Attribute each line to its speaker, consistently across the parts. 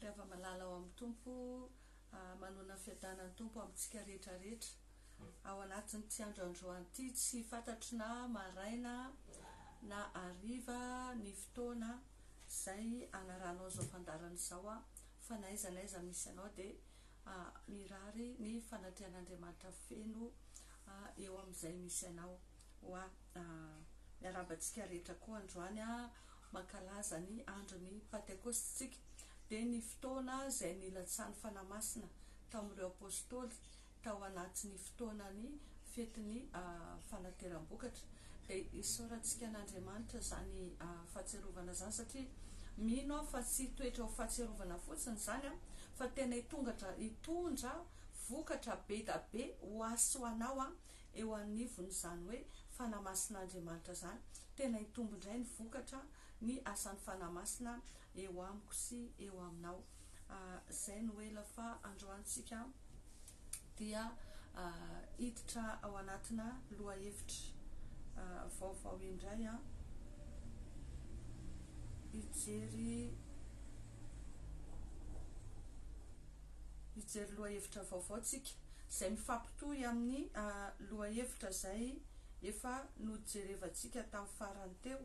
Speaker 1: Ry hava-malala ao amin'ny Tompo, manoana ny fiadanan'ny Tompo amintsika rehetra rehetra. Ao anatin'ity andro androany ity, tsy fantatro na maraina na hariva ny fotoana izay hanaranao izao fandaharana izao aho, fa na aiza na aiza misy anao dia mirary ny fanatrehan'Andriamanitra feno eo amin'izay misy anao. Miarahaba antsika rehetra koa androany. mankalaza ny andron'ny Pantekosty isika, dia ny fotoana izay nilatsahan'ny Fanahy Masina tamin'ireo Apôstôly tao anatin'ny fotoanan'ny fetin'ny Fanateram-bokatra. Dia isaorantsika an'Andriamanitra izany fahatsiarovana izany, satria mino aho fa tsy hitoetra ho fahatsiarovana fotsiny izany, fa tena hitongatra hitondra vokatra be dia be ho ahy sy ho anao eo anivon'izany hoe fanahy masin'Andriamanitra izany, tena hitombo indray ny vokatra ny asan'ny fanahy masina eo amiko sy eo aminao. Izay no ela fa androany isika dia hiditra ao anatina lohahevitra vaovao indray, hijery. hijery lohahevitra vaovao tsika izay mifampitohy amin'ny lohahevitra izay efa nojerevantsika tamin'ny farany teo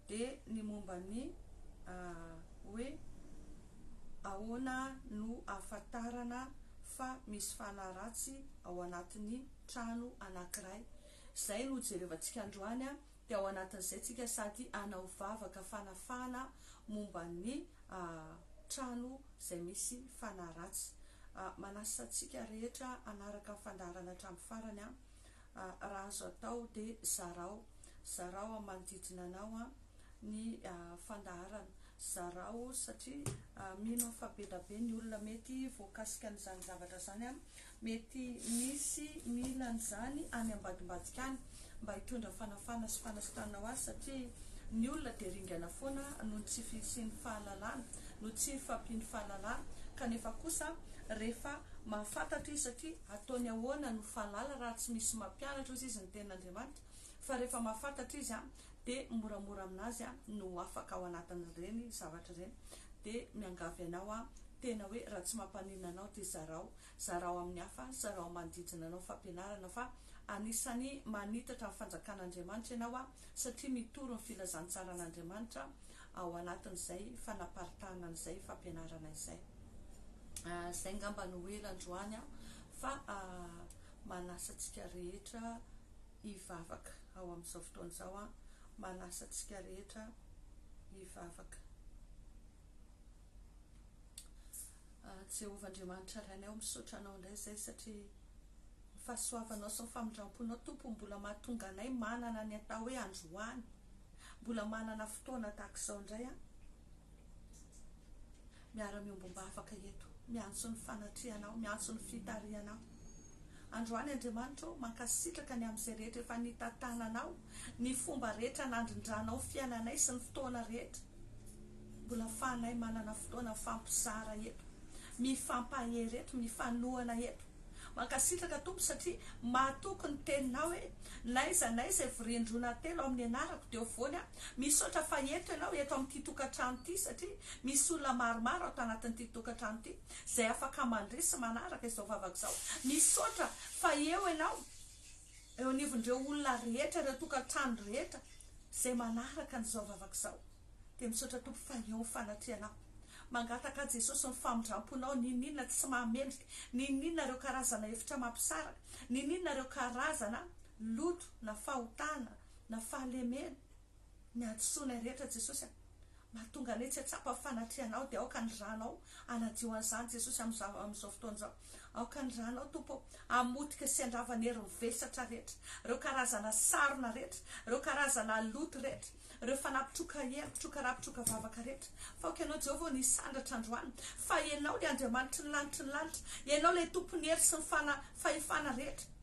Speaker 1: dia ny momba ny hoe ahoana no ahafantarana fa misy fanahy ratsy ao anatin'ny trano anankiray izay no jerevantsika androany dia ao anatin'izay tsika sady hanao vavaka fanafahana momba ny trano izay misy fanahy ratsy. Manasa antsika rehetra hanaraka ny fandaharana hatramin'ny farany an! Raha azo atao dia zarao, zarao amin'ny manodidina anao ny fandaharana, zarao satria mino aho fa be da be ny olona mety voakasika an'izany zavatra izany an! Mety misy mila an'izany any ambadimbadika any mba hitondra fanafahana sy fanasitranana ho azy satria ny olona dia ringana foana noho ny tsy fisian'ny fahalalana, no tsy hifampian'ny fahalalana kanefa kosa rehefa mahafantatra izy satria ataony ahoana no fahalala raha tsy misy mampianatra ozy izy ny tenin'Andriamanitra fa rehefa mahafantatra izy a dia moramora amin'azy a no ho afaka ao anatin'ireny zavatra ireny dia miangavy anao aho tena hoe raha tsy mampaninona anao dia zarao Zarao amin'ny hafa, zarao manodidina anao ny fampianarana fa anisan'ny manitatra ny fanjakan'Andriamanitra ianao satria mitory ny filazantsaran'Andriamanitra ao anatin'izay fanaparitahana an'izay fampianarana izay. Izay angamba no ela androany fa manasa antsika rehetra hivavaka ao amin'izao fotoana izao, manasa antsika rehetra hivavaka. Jehovah Andriamanitra Ray anay ô misaotra anao indray izay satria ny fahasoavanao sy ny famindramponao Tompo mbola mahatonga anay manana ny atao hoe androany mbola manana fotoana tahaka izao indray an miara miombom-bavaka eto miantso ny fanatrehanao miantso ny fitarihanao Androany Andriamanitra ô, mankasitraka ny amin'izay rehetra efa nitantananao, ny fomba rehetra nandrindranao fiainanay sy ny fotoana rehetra mbola afahanay manana fotoana mifampizara eto, mifampahery eto, mifanohana eto. Mankasitraka Tompo satria mahatoky ny teninao hoe n'aiza n'aiza ivorian-droana telo amin'ny anarako dia ho voany aho. Misaotra fa eto ianao eto amin'ity tokantrano ity satria misy olona maromaro ato anatin'ity tokantrano ity. izay afaka mandre sy manaraka izao vavaka izao. Misaotra fa eo ianao, eo anivon'ireo olona rehetra, ireo tokantrano rehetra izay manaraka an'izao vavaka izao. Dia misaotra Tompo fa eo ny fanatrianao. Mangataka ahy Jesosy ny famindramponao, n'inon'inona tsy mahamendrika, n'inon'inona ireo karazana hevitra mampisaraka, n'inon'inona ireo karazana loto na fahotana na fahalemena, ny hadisoanay rehetra Jesosy a! mahatonga anay tsy hahatsapa ny fanatrehanao dia aoka ny ranao hanadio an'izany Jesosy amin'izao amin'izao fotoana izao aoka ny ranao Tompo ô hamotika sy handrava ny herin'ny vesatra rehetra ireo karazana sarona rehetra ireo karazana loto rehetra ireo fanahy mpitroka hery mpitroka ra mpitroka vavaka rehetra fa aoka ianao Jehovah ny hisandratra androany fa ianao ilay Andriamanitry ny lanitry ny lanitra ianao ilay tompon'ny hery sy ny fana fahefana rehetra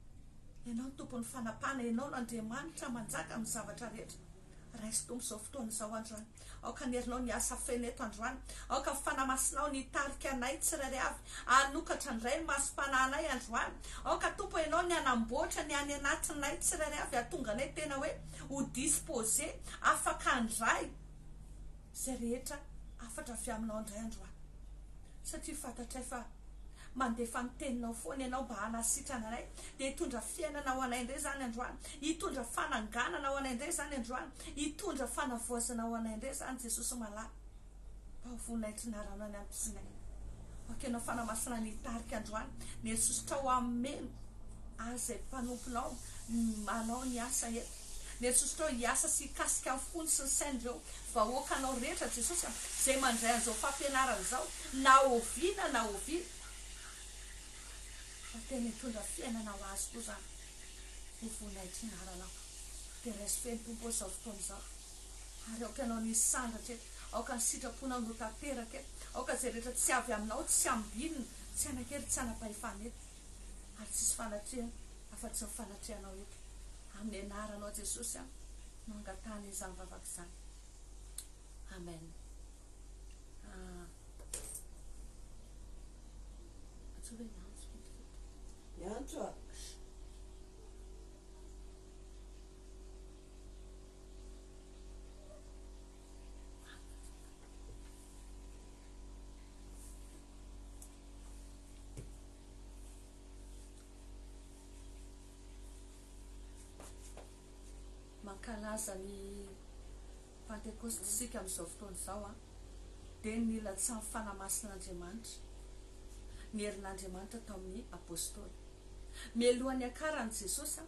Speaker 1: Ianao no Tompon'ny fanapahana, Ianao no Andriamanitra manjaka amin'ny zavatra rehetra. Raiso Tompo izao fotoana izao androany, aoka ny herinao ny asa feno eto androany, aoka ny Fanahy Masinao ny hitarika anay tsirairay avy hanokatra indray ny masom-panahinay androany, aoka Tompo Ianao ny hanamboatra ny any anatinay tsirairay avy hahatonga anay tena hoe ho disposer, afaka handray. izay rehetra hafatra avy aminao indray andro aho, satria fantatray fa mandefa ny teninao foana ianao mba hanasitrana anay, dia hitondra fiainana ho anay indray izany androany, hitondra fananganana ho anay indray izany androany, hitondra fanavaozana ho anay indray izany Jesosy malala, mba ho voninahitry ny Aranao ny ampisinay, aoka ianao Fanamasina ny hitarika androany, ny hery sosotrao hameno azy izay mpanomponao manao ny asa eto. Mety sosotrao hiasa sy hikasika ny fony sy ny sainy ireo vahoakanao rehetra Jesosy a, izay mandray an'izao fampianarana izao na oviana na oviana fa tena hitondra fiainana ho azy koa izany ho voninahitry ny anaranao dia raiso ny Tompo izao fotoana izao ary aoka ianao no hisandratra eto aoka ny sitraponao no ho tanteraka eto aoka izay rehetra tsy avy aminao tsy ambinina tsy hanan-kery tsy hanam-pahefana eto ary tsisy fanatrehana afa-tsy ny fanatrehanao eto amin'ny anaranao Jesosy aho no angatahana izany vavaka izany Amen
Speaker 2: ah. Niantso a.
Speaker 1: Mankalaza ny Pantekosta isika amin'izao fotoana izao an! Dia ny nilatsahan'ny Fanahy Masin'Andriamanitra, ny herin'Andriamanitra tao amin'ny Apôstôly. Mialoha niakaran'i Jesosy an!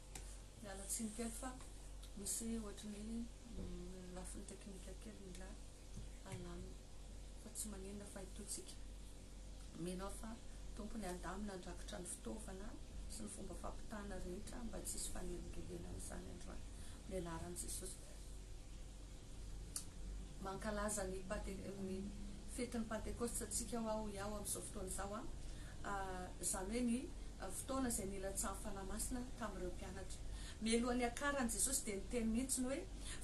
Speaker 1: Miala tsiny kely fa misy ohatry ny hoe lafiny teknika kely mila alamina fa tsy maninona fa itoa tsika mino aho fa tompony alamina andrakitra ny fitaovana sy ny fomba fampitana rehetra mba tsy hisy fanelingelena amin'izany androany ny anaran'i Jesosy. Mankalaza ny Pante, ny fetin'ny Pantekosta antsika hoa hoy aho amin'izao fotoana izao an, izany hoe ny fotoana izay nilatsahan'ny Fanahy Masina tamin'ireo mpianatra. Mialohan'ny hiakaran'i Jesosy dia niteny mihitsy ny hoe,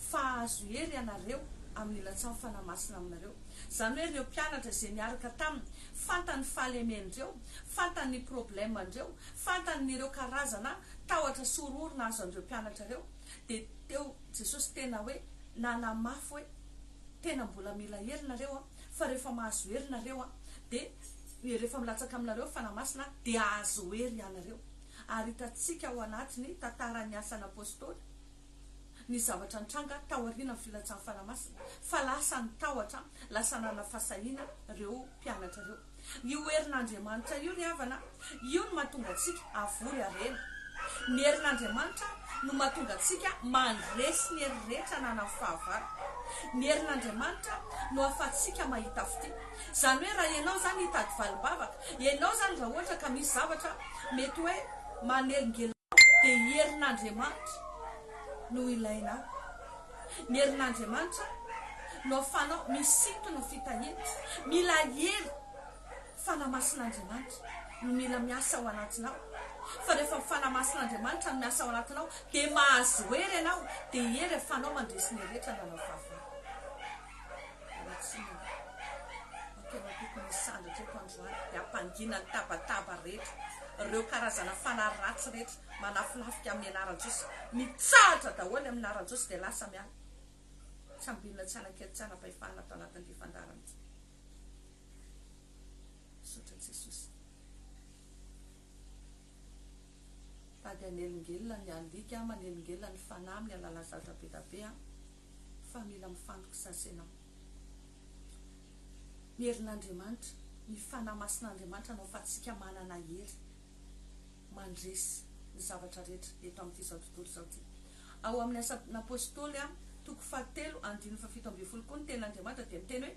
Speaker 1: Fa hahazo hery ianareo amin'ny hilatsahan'ny Fanahy Masina aminareo. Izany hoe ireo mpianatra izay niaraka taminy, fantany ny fahalemen'ireo, fantany ny probleman'ireo, fantany ny ireo karazana tahotra sy horohoro nahazo an'ireo mpianatra ireo, Dia teo Jesosy tena hoe nanamafy hoe tena mbola mila hery nareo an, fa rehefa mahazo hery nareo an, dia rehefa milatsaka aminareo ny Fanahy Masina an, dia hahazo hery ianareo. Ary hitantsika ao anatin'ny tantaran'ny Asan'ny Apostoly ny zavatra nitranga taorianan'ny filatsan'ny Fanahy Masina, fa lasa ny tahotra, lasa nanana fahasahiana ireo mpianatra ireo. Ny ho herin'Andriamanitra io ry havana, io no mahatonga antsika havory harena. Ny herin'Andriamanitra no mahatonga antsika mandresy ny hery rehetra na na fahavalo. Ny herin'Andriamanitra no ahafahantsika mahita fitia. Izany hoe raha ianao izany hitady valim-bavaka, ianao izany raha ohatra ka misy zavatra mety hoe manelingelina anao dia i herin'Andriamanitra no ilainao. Ny herin'Andriamanitra no afanao misintona fitahiana. Mila hery fanahy masin'Andriamanitra no mila miasa ao anatinao. Fa rehefa fanahy masin'Andriamanitra no miasa ao anatinao dia mahazo hery ianao dia hery afanao mandresy ny rehetra nanao fahavalo. Ratsiraka, fa tena tokony hisandratra eto androany dia hampangina ny tabataba rehetra ireo karazana fanahy ratsy rehetra malafilafika amin'ny anaran-jiosy, mitsahatra daholo amin'ny laharan-jiosy dia lasa miala, tsy hambinina tsy hanakely tsy hanapahefana ato anatin'ity fandaharana ity. Misaotra an'i Jesosy. Tady hanelingelina ny alika, manelingelina ny fanahy amin'ny alalan'ny zava-draha be dia be. fa mila mifandokisasa ianao ny herin'Andriamanitra ny fanahy masin'Andriamanitra anao fa tsika manana hery mandresy ny zavatra rehetra eto amin'ity zao tontolo izao ity ao amin'ny asan'apostoly a toko fahatelo andininy fahafito ambin'ny folo koa ny tenin'Andriamanitra dia miteny hoe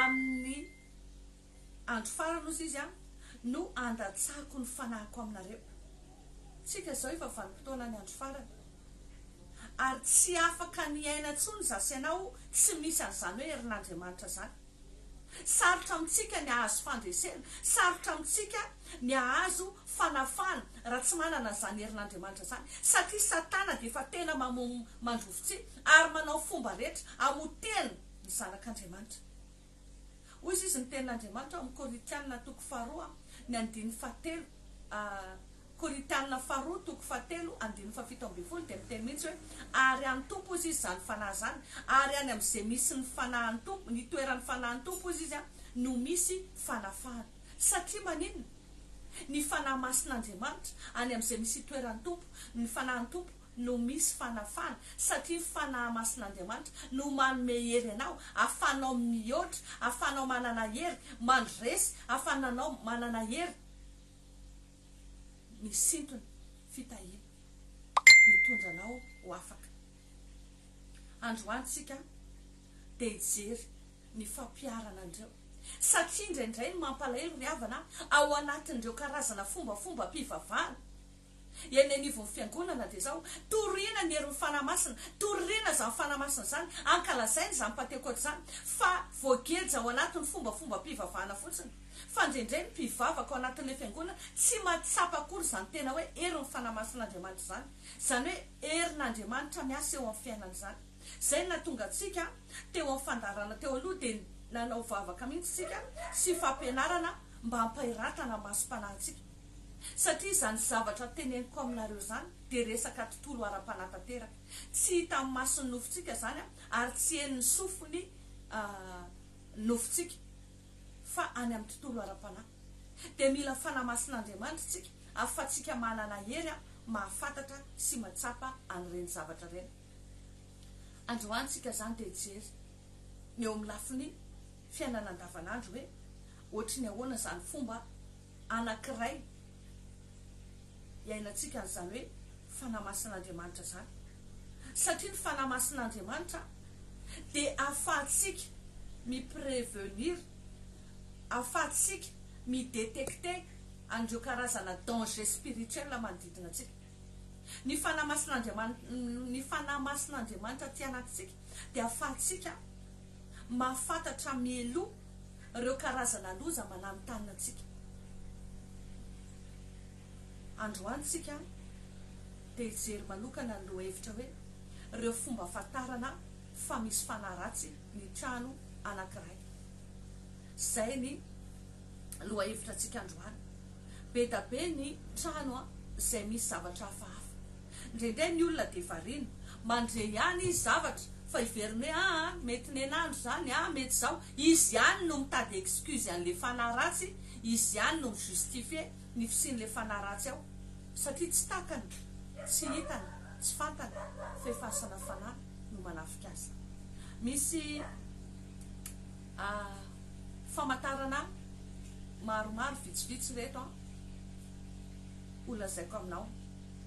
Speaker 1: amin'ny Andro farany, hoy Izy, no handatsako ny fanahiko aminareo. Isika izao efa vanim-potoanan'ny andro farany, ary tsy afaka ny hiaina intsony izaho sy ianao tsy misy an'izany hoe herin'Andriamanitra izany. Sarotra amintsika ny hahazo fandresena, sarotra amintsika ny hahazo fanafahana raha tsy manana an'izany herin'Andriamanitra izany, satria Satana dia efa tena mamono mandrovitsihy ary manao fomba rehetra hamotehana ny zanak'Andriamanitra. Hoy izy, Izy ny Tenin'Andriamanitra, ao amin'ny Korintiana toko faharoa, ny andininy fahatelo, Korintiana faharoa toko fahatelo, andininy fahafito ambin'ny folo, dia miteny mihitsy hoe, Ary an'ny Tompo, hoy izy, izany fanahy izany, ary any amin'izay misy ny fanahin'ny Tompo, ny toeran'ny fanahin'ny Tompo, hoy izy, no misy fanafahana. Satria maninona? Ny fanahy masin'Andriamanitra, any amin'izay misy itoeran'ny Tompo, ny fanahin'ny Tompo, no misy fanafana, satria ny Fanahy Masin'Andriamanitra no manome hery anao, ahafahanao mihoatra, ahafahanao manana hery mandresy, ahafananao manana hery misintona fitahiana, mitondra anao ho afaka. Androany tsika dia hijery ny fampiharana an'ireo, satria indraindray ny mampalahelo ry havana a, ao anatin'ireo karazana fombafombam-pivavahana, Eny anivon'ny Fiangonana dia izao, toriana ny herin'ny Fanahy Masina, toriana izany Fanahy Masina izany, ankalazaina izany Pantekoty izany, fa voageja ao anatin'ny fombafombam-pivavahana fotsiny. Fa indraindray ny mpivavaka ao anatin'ilay Fiangonana tsy mahatsapa akory izany tena hoe herin'ny Fanahy Masin'Andriamanitra izany, izany hoe herin'Andriamanitra miasa eo amin'ny fiainany izany. Izay no nahatonga antsika teo amin'ny fandaharana teo aloha dia nanao vavaka mihitsy isika sy fampianarana mba hampahiratana ny masom-panahintsika. satria izany zavatra teneniko aminareo izany dia resaka tontolo ara-panahy tanteraka, tsy hita amin'ny mason'ny nofontsika izany ary tsy henon'ny sofin'ny nofontsika fa any amin'ny tontolo ara-panahy, dia mila fanamasin'Andriamanitra isika ahafahantsika manana hery mahafantatra sy mahatsapa an'ireny zavatra ireny. Androany isika izany dia hijery ny eo amin'ny lafiny fiainana andavanandro hoe ohatry ny ahoana izany fomba anankiray iainantsika an'izany hoe Fanahy Masin'Andriamanitra izany, satria ny Fanahy Masin'Andriamanitra dia ahafahantsika mi-prevenir, ahafahantsika mi-detecter an'ireo karazana danger spirituel manodidina antsika. Ny Fanahy Masin'Andriamanitra, ny Fanahy Masin'Andriamanitra aty anatintsika dia ahafahantsika mahafantatra mialoha, Ireo karazana loza malamy tanina antsika androany tsika dia hijery manokana ny lohahevitra hoe ireo fomba afantarana fa misy fanahy ratsy ny trano anankiray. Izay ny lohahevitra antsika androany. Be da be ny trano izay misy zavatra hafahafa. Ndraindray ny olona dia variana, mandre ihany izy zavatra fa hiverina hoe aa mety nenandro izany aa mety izao, izy ihany no mitady excuse an'ilay fanahy ratsy, izy ihany no mi-justifier ny fisian'ilay fanahy ratsy ao satria tsy takany, tsy hitany, tsy fantany fa efa asana fanahy no manafika azy. Misy famantarana maromaro vitsivitsy ireto an, ho lazaiko aminao.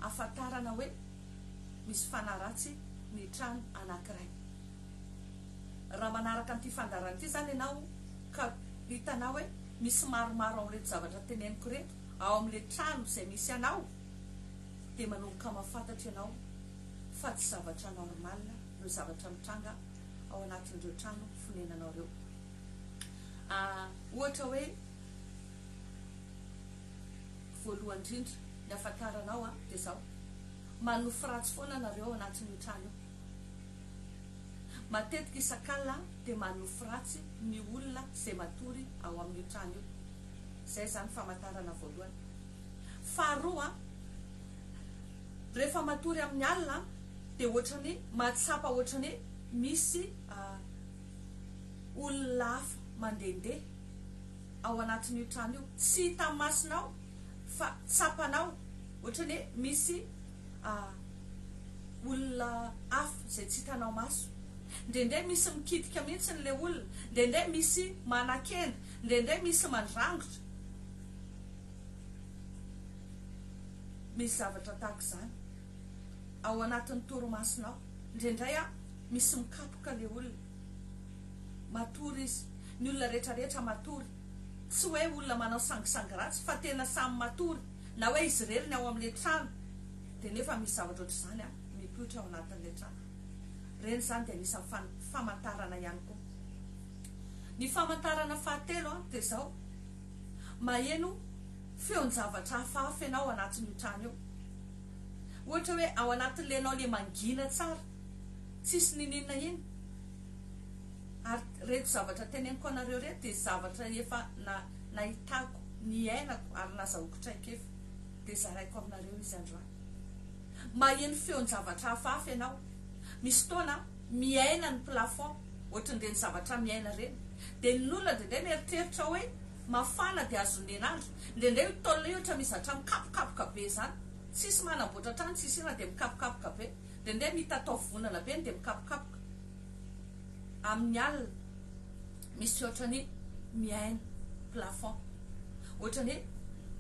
Speaker 1: ahafantarana hoe misy fanaratsy ny trano anankiray. Raha manaraka an'ity fandaharana ity izany ianao ka hitanao hoe misy maromaro amin'ireto zavatra teneniko ireto ao amin'ilay trano izay misy anao dia manomboka mahafantatra ianao fa tsy zavatra normal ireo zavatra mitranga ao anatin'ireo trano fonenanao ireo. Ah, ohatra hoe. Voalohany indrindra, ny ahafantarana aho an, dia izao, manofy ratsy foana nareo ao anatin'io trano io. Matetika isak'alina an, dia manofy ratsy ny olona izay matory ao amin'io trano io. Izay izany famantarana voalohany. Faharoa an, rehefa matory amin'ny alina an, dia ohatran'ny mahatsapa ohatran'ny hoe misy olona hafa mandehandeha. ao anatin'io trano io, tsy hita masonao fa tsapanao, ohatrany hoe misy olona hafa izay tsy hitanao maso, indraindray misy mikitika mihitsy ilay olona, indraindray misy manakenda, indraindray misy mandrangotra, misy zavatra tahaka izany ao anatin'ny torimasonao, indraindray misy mikapoka ilay olona. Matory izy. Ny olona rehetra rehetra matory. Tsy hoe olona manao sangisangy ratsy fa tena samy matory. Na hoe izy irery ny ao amin'ilay trano. Dia nefa misy zavatra ohatr'izany mipoitra ao anatin'ilay trano. Ireny izany dia anisan'ny famantarana ihany koa. Ny famantarana fahatelo dia izao, maheno feon-javatra hafahafa ianao ao anatin'io trano io. Ohatra hoe ao anatin'ilay ianao ilay mangina tsara. tsisy nininona iny ary reto zavatra teneniko anareo reto dia zavatra efa nahitako niainako ary nazahoako traikefa dia zaraiko aminareo izy androany maheno feon-javatra hafahafa ianao misy fotoana miaina ny plafond ohatran'ireny zavatra miaina ireny dia ny nona dia dia mieritreritra hoe mafana dia azon'ny henandro dia dia io tolona io ohatra mizatra mikapokapoka be izany tsisy manamboatra trano tsisy inona dia mikapokapoka be Dia ndeha mitatao vonana be ndeha mikapokapoka amin'ny alina misy ohatran'ny mihaino plafond ohatran'ny hoe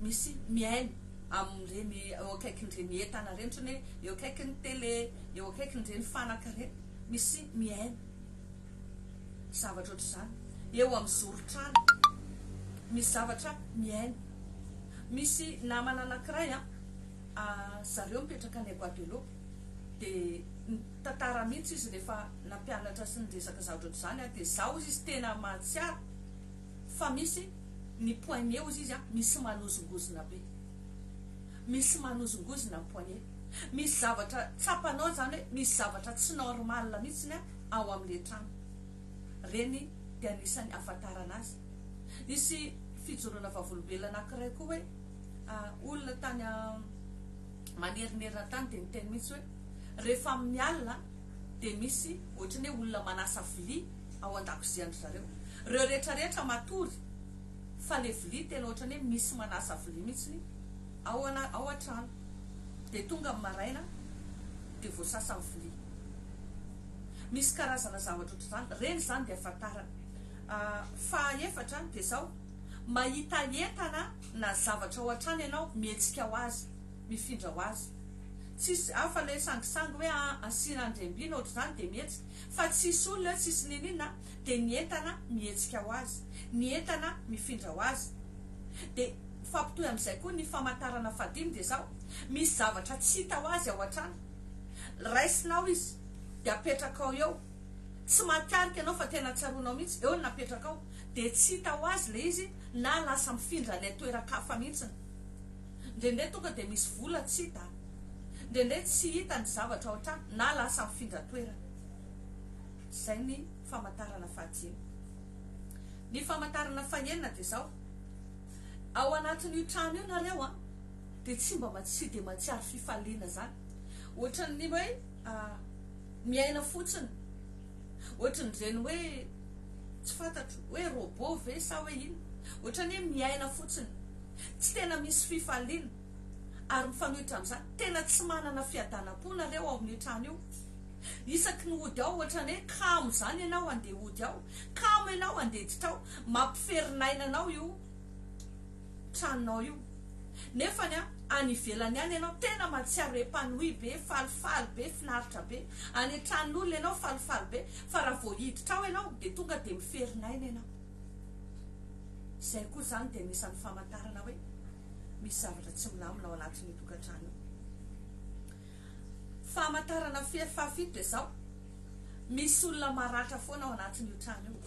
Speaker 1: misy mihaino amin'ireny eo akaikin'ireny entana ireny ohatran'ny hoe eo akaikin'ny tele eo akaikin'ireny fanaka ireny misy mihaino zavatra ohatr'izany eo amin'ny zoron-trano misy zavatra mihaino misy namana anankiray an a zareo mipetraka any Guadeloupe dia nitantara mihitsy izy rehefa nampianatra sy niresaka zavatra toy izany aho dia za hozy izy tena mahatsiaro fa misy ny poignet hozy izy a misy manozongozona be misy manozongozona ny poignet misy zavatra tsapanao izany hoe misy zavatra tsy normal mihitsy ny ao amin'ilay trano ireny dia anisan'ny ahafantarana azy nisy fijoroana vavolombelona anankiray koa hoe olona tany manerinerina tany dia niteny mihitsy hoe rehefa amin'ny alina dia misy ohatran'ny hoe olona manasa vilia ao an-dakozian-dry zareo. Ireo rehetra rehetra matory fa ilay vilia tena ohatran'ny hoe misy manasa vilia mihitsy ao ao an-trano. Dia tonga amin'ny maraina dia voasasa ny vilia. Misy karazana zavatra ohatr'izany. Ireny izany dia ahafantarana. Fahaefatra dia izao. Mahita entana na zavatra hoatrany ianao, mihetsika ho azy, mifindra ho azy. Tsisy hafa le sangisangy hoe asiana andriambiana ohatr'izany dia mihetsika. Fa tsisy olona eo, tsisy niniana dia ny entana mihetsika ho azy, ny entana mifindra ho azy. Dia mifampitohy amin'izay koa ny famantarana fahadimy dia izao, misy zavatra tsy hita ho azy ao hatrany. Raisinao izy dia apetrakao eo. tsy mahatarika anao fa tena tsaroanao mihitsy eo no napetrakao dia tsy hita ho azy ilay izy na lasa mifindra ilay toeran-kafa mihitsy. Indraindray tonga dia misy vola tsy hita, indraindray tsy hita ny zavatra ao an-trano na lasa mifindra toerana. Izay ny famantarana fahadimy. Ny famantarana fahenina dia izao, ao anatin'io trano io nareo an, dia tsy mba tsy dia mahatsiaro fifaliana izany, ohatran'ny hoe. Miaina fotsiny ohatrin'ireny hoe tsy fantatro hoe robot ve sa hoe inona. Ohatran'ny hoe miaina fotsiny, tsy tena misy fifaliana ary mifanohitra amin'izany tena tsy manana fiadanam-po nareo ao amin'ny trano io. Isaky ny hody ao ohatran'ny hoe kamo izany ianao handeha hody ao, kamo ianao handiditra ao, mampiferinaina anao io. tranonao io nefany an any ivelany any enao tena matsiaro epanoui be falifaly be finaritra be any atranon'olona enao falifaly be fa raha vao hiditra ao enao de tonga de miferin'aina enao zay koa zany de anisan'ny famantarana hoe misy zavatra tsy milamina ao anatin'io tokantrano io famantarana fahafito de zao misy olona maratra foana ao anatin'io trano io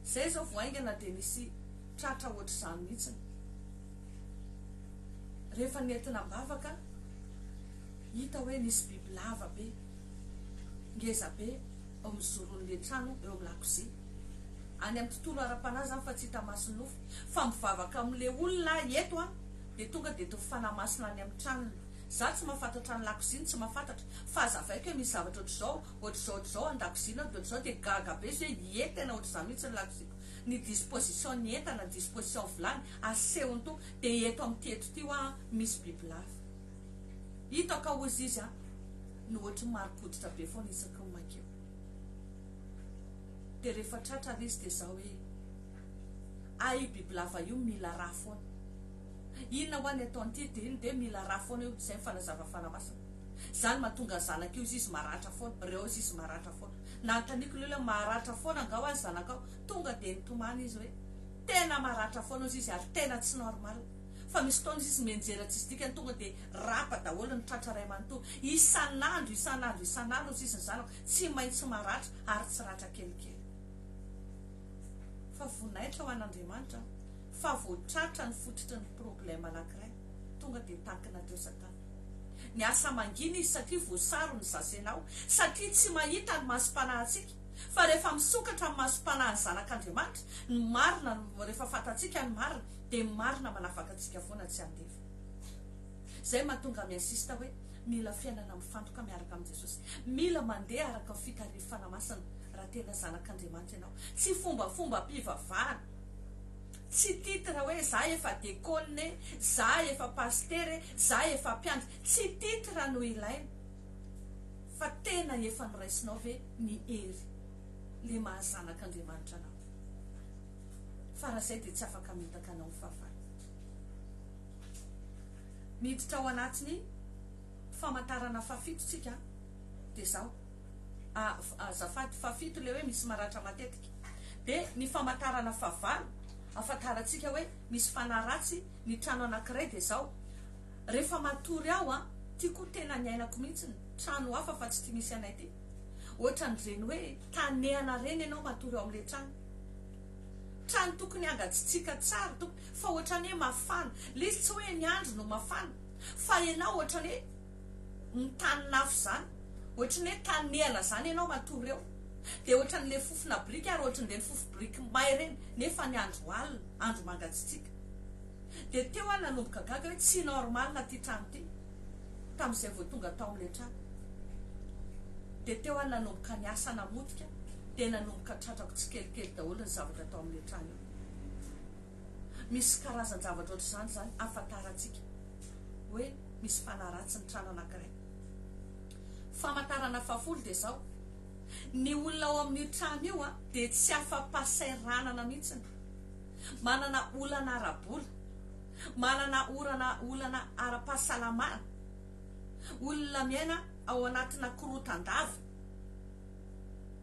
Speaker 1: Zay zao vao haingana dia nisy tratra hoatr'izany mihitsiny. Rehefa nentina am-bavaka, hita hoe nisy biby lava be, ngeza be eo amin'ny zoron'ilay trano eo amin'ny lakozia. Any amin'ny tontolo ara-panahy izany fa tsy hita maso ny nofo. Fa mivavaka amin'ilay olona aho eto an, dia tonga dia tony fanahy masina any amin'ny tranony. Izaho tsy mahafantatra ny lakoziany, tsy mahafantatra. Fa hazavaiko hoe misy zavatra hoatr'izao Ohatr'izao ohatr'izao an-dakozia na ohatr'izao dia gaga be izy hoe ie tena ohatr'izany mihitsy ny lakoziako. Ny disposition ny entana, ny disposition vilany, asehony toa dia eto amin'ity eto ity hoa misy bibilava. Hitako hozy izy an! no ohatry ny marim-pototra be foana isaky ny mankeo. Dia rehefa tratra ary izy dia zao hoe, ah io bibilava io mila rà foana. Inona hoa ny ataon'ity dia iny dia mila ra foana io, izay ny fanazavan'ny Fanahy Masina. Izany mahatonga ny zanaka io izy izy maratra foana, reo izy izy maratra foana. Nanontaniako ilay olona maratra foana angaha hoa ny zanakao, tonga dia nitomany izy hoe tena maratra foana izy izy ary tena tsy normal. Fa misy fotoana izy izy mianjera tsisy dikany tonga dia rapa daholo ny tratra iray manontolo. Isan'andro, isan'andro, isan'andro izy izy ny zanako tsy maintsy maratra ary tsy ratra kelikely. Fa voninahitra ho an'Andriamanitra an. fa vao tratra ny fototry ny problème anankiray tonga dia takina teo satana. Miasa mangina izy satria voasaro ny zasenao, satria tsy mahita ny masom-panahintsika, fa rehefa misokatra amin'ny masom-panahin'ny zanak'Andriamanitra ny marina, rehefa fantatsika ny marina, dia ny marina manafaka antsika foana tsy handefa. Izay mahatonga aho mi-insiste hoe mila fiainana mifantoka miaraka amin'i Jesosy, mila mandeha araka ny fitarihiny fanahy masina raha tena zanak'Andriamanitra ianao, tsy fombafombam-pivavahana, Tsy titre hoe za efa dekôlina e, za efa pasitera e, za efa mpiandry. Tsy titre no ilaina fa tena efa noraisinao ve ny hery le maha zanak'Andriamanitra anao? Fa raha zay dia tsy afaka hamitaka anao ny fahavalo. Miditra ao anatin'ny famantarana fahafito tsika dia zao, a, azafady, fahafito le hoe misy maratra matetika. Dia ny famantarana fahavalo ahafantarantsika hoe misy fanahy ratsy ny trano anankiray dia izao, rehefa matory aho an, ity koa tena niainako mihitsy ny trano hafa fa tsy ity misy anay ity, ohatran'ireny hoe tanehana ireny ianao matory ao amin'ilay trano, trano tokony hangatsitsiaka tsara tokony fa ohatran'ny hoe mafana, ilay izy tsy hoe ny andro no mafana fa ianao ohatran'ny hoe. ny tanin'afo izany, ohatry ny hoe tanin'ehana izany ianao matory eo, dia ohatran'ny ilay fofona biriky ary ohatry ny ireny fofo biriky may ireny, nefa ny andro alina, andro mangatsitsiaka. Dia teo aho nanomboka gaga hoe tsy normal ity trano ity, tamin'izay vao tonga tao amin'ilay trano. Dia teo aho nanomboka niasa namotika, dia nanomboka tratrako tsikelikely daholo ny zavatra tao amin'io trano io. Misy karazan-javatra ohatran'izany izany ahafantarantsika hoe. misy fanahy ratsy ny trano anankiray. Famantarana fahafolo dia izao, ny olona ao amin'io trano io dia tsy afa-pahasahiranana mihitsiny, manana olana ara-bola, manana orana olana ara-pahasalamana, olona miaina ao anatina korotan-dava.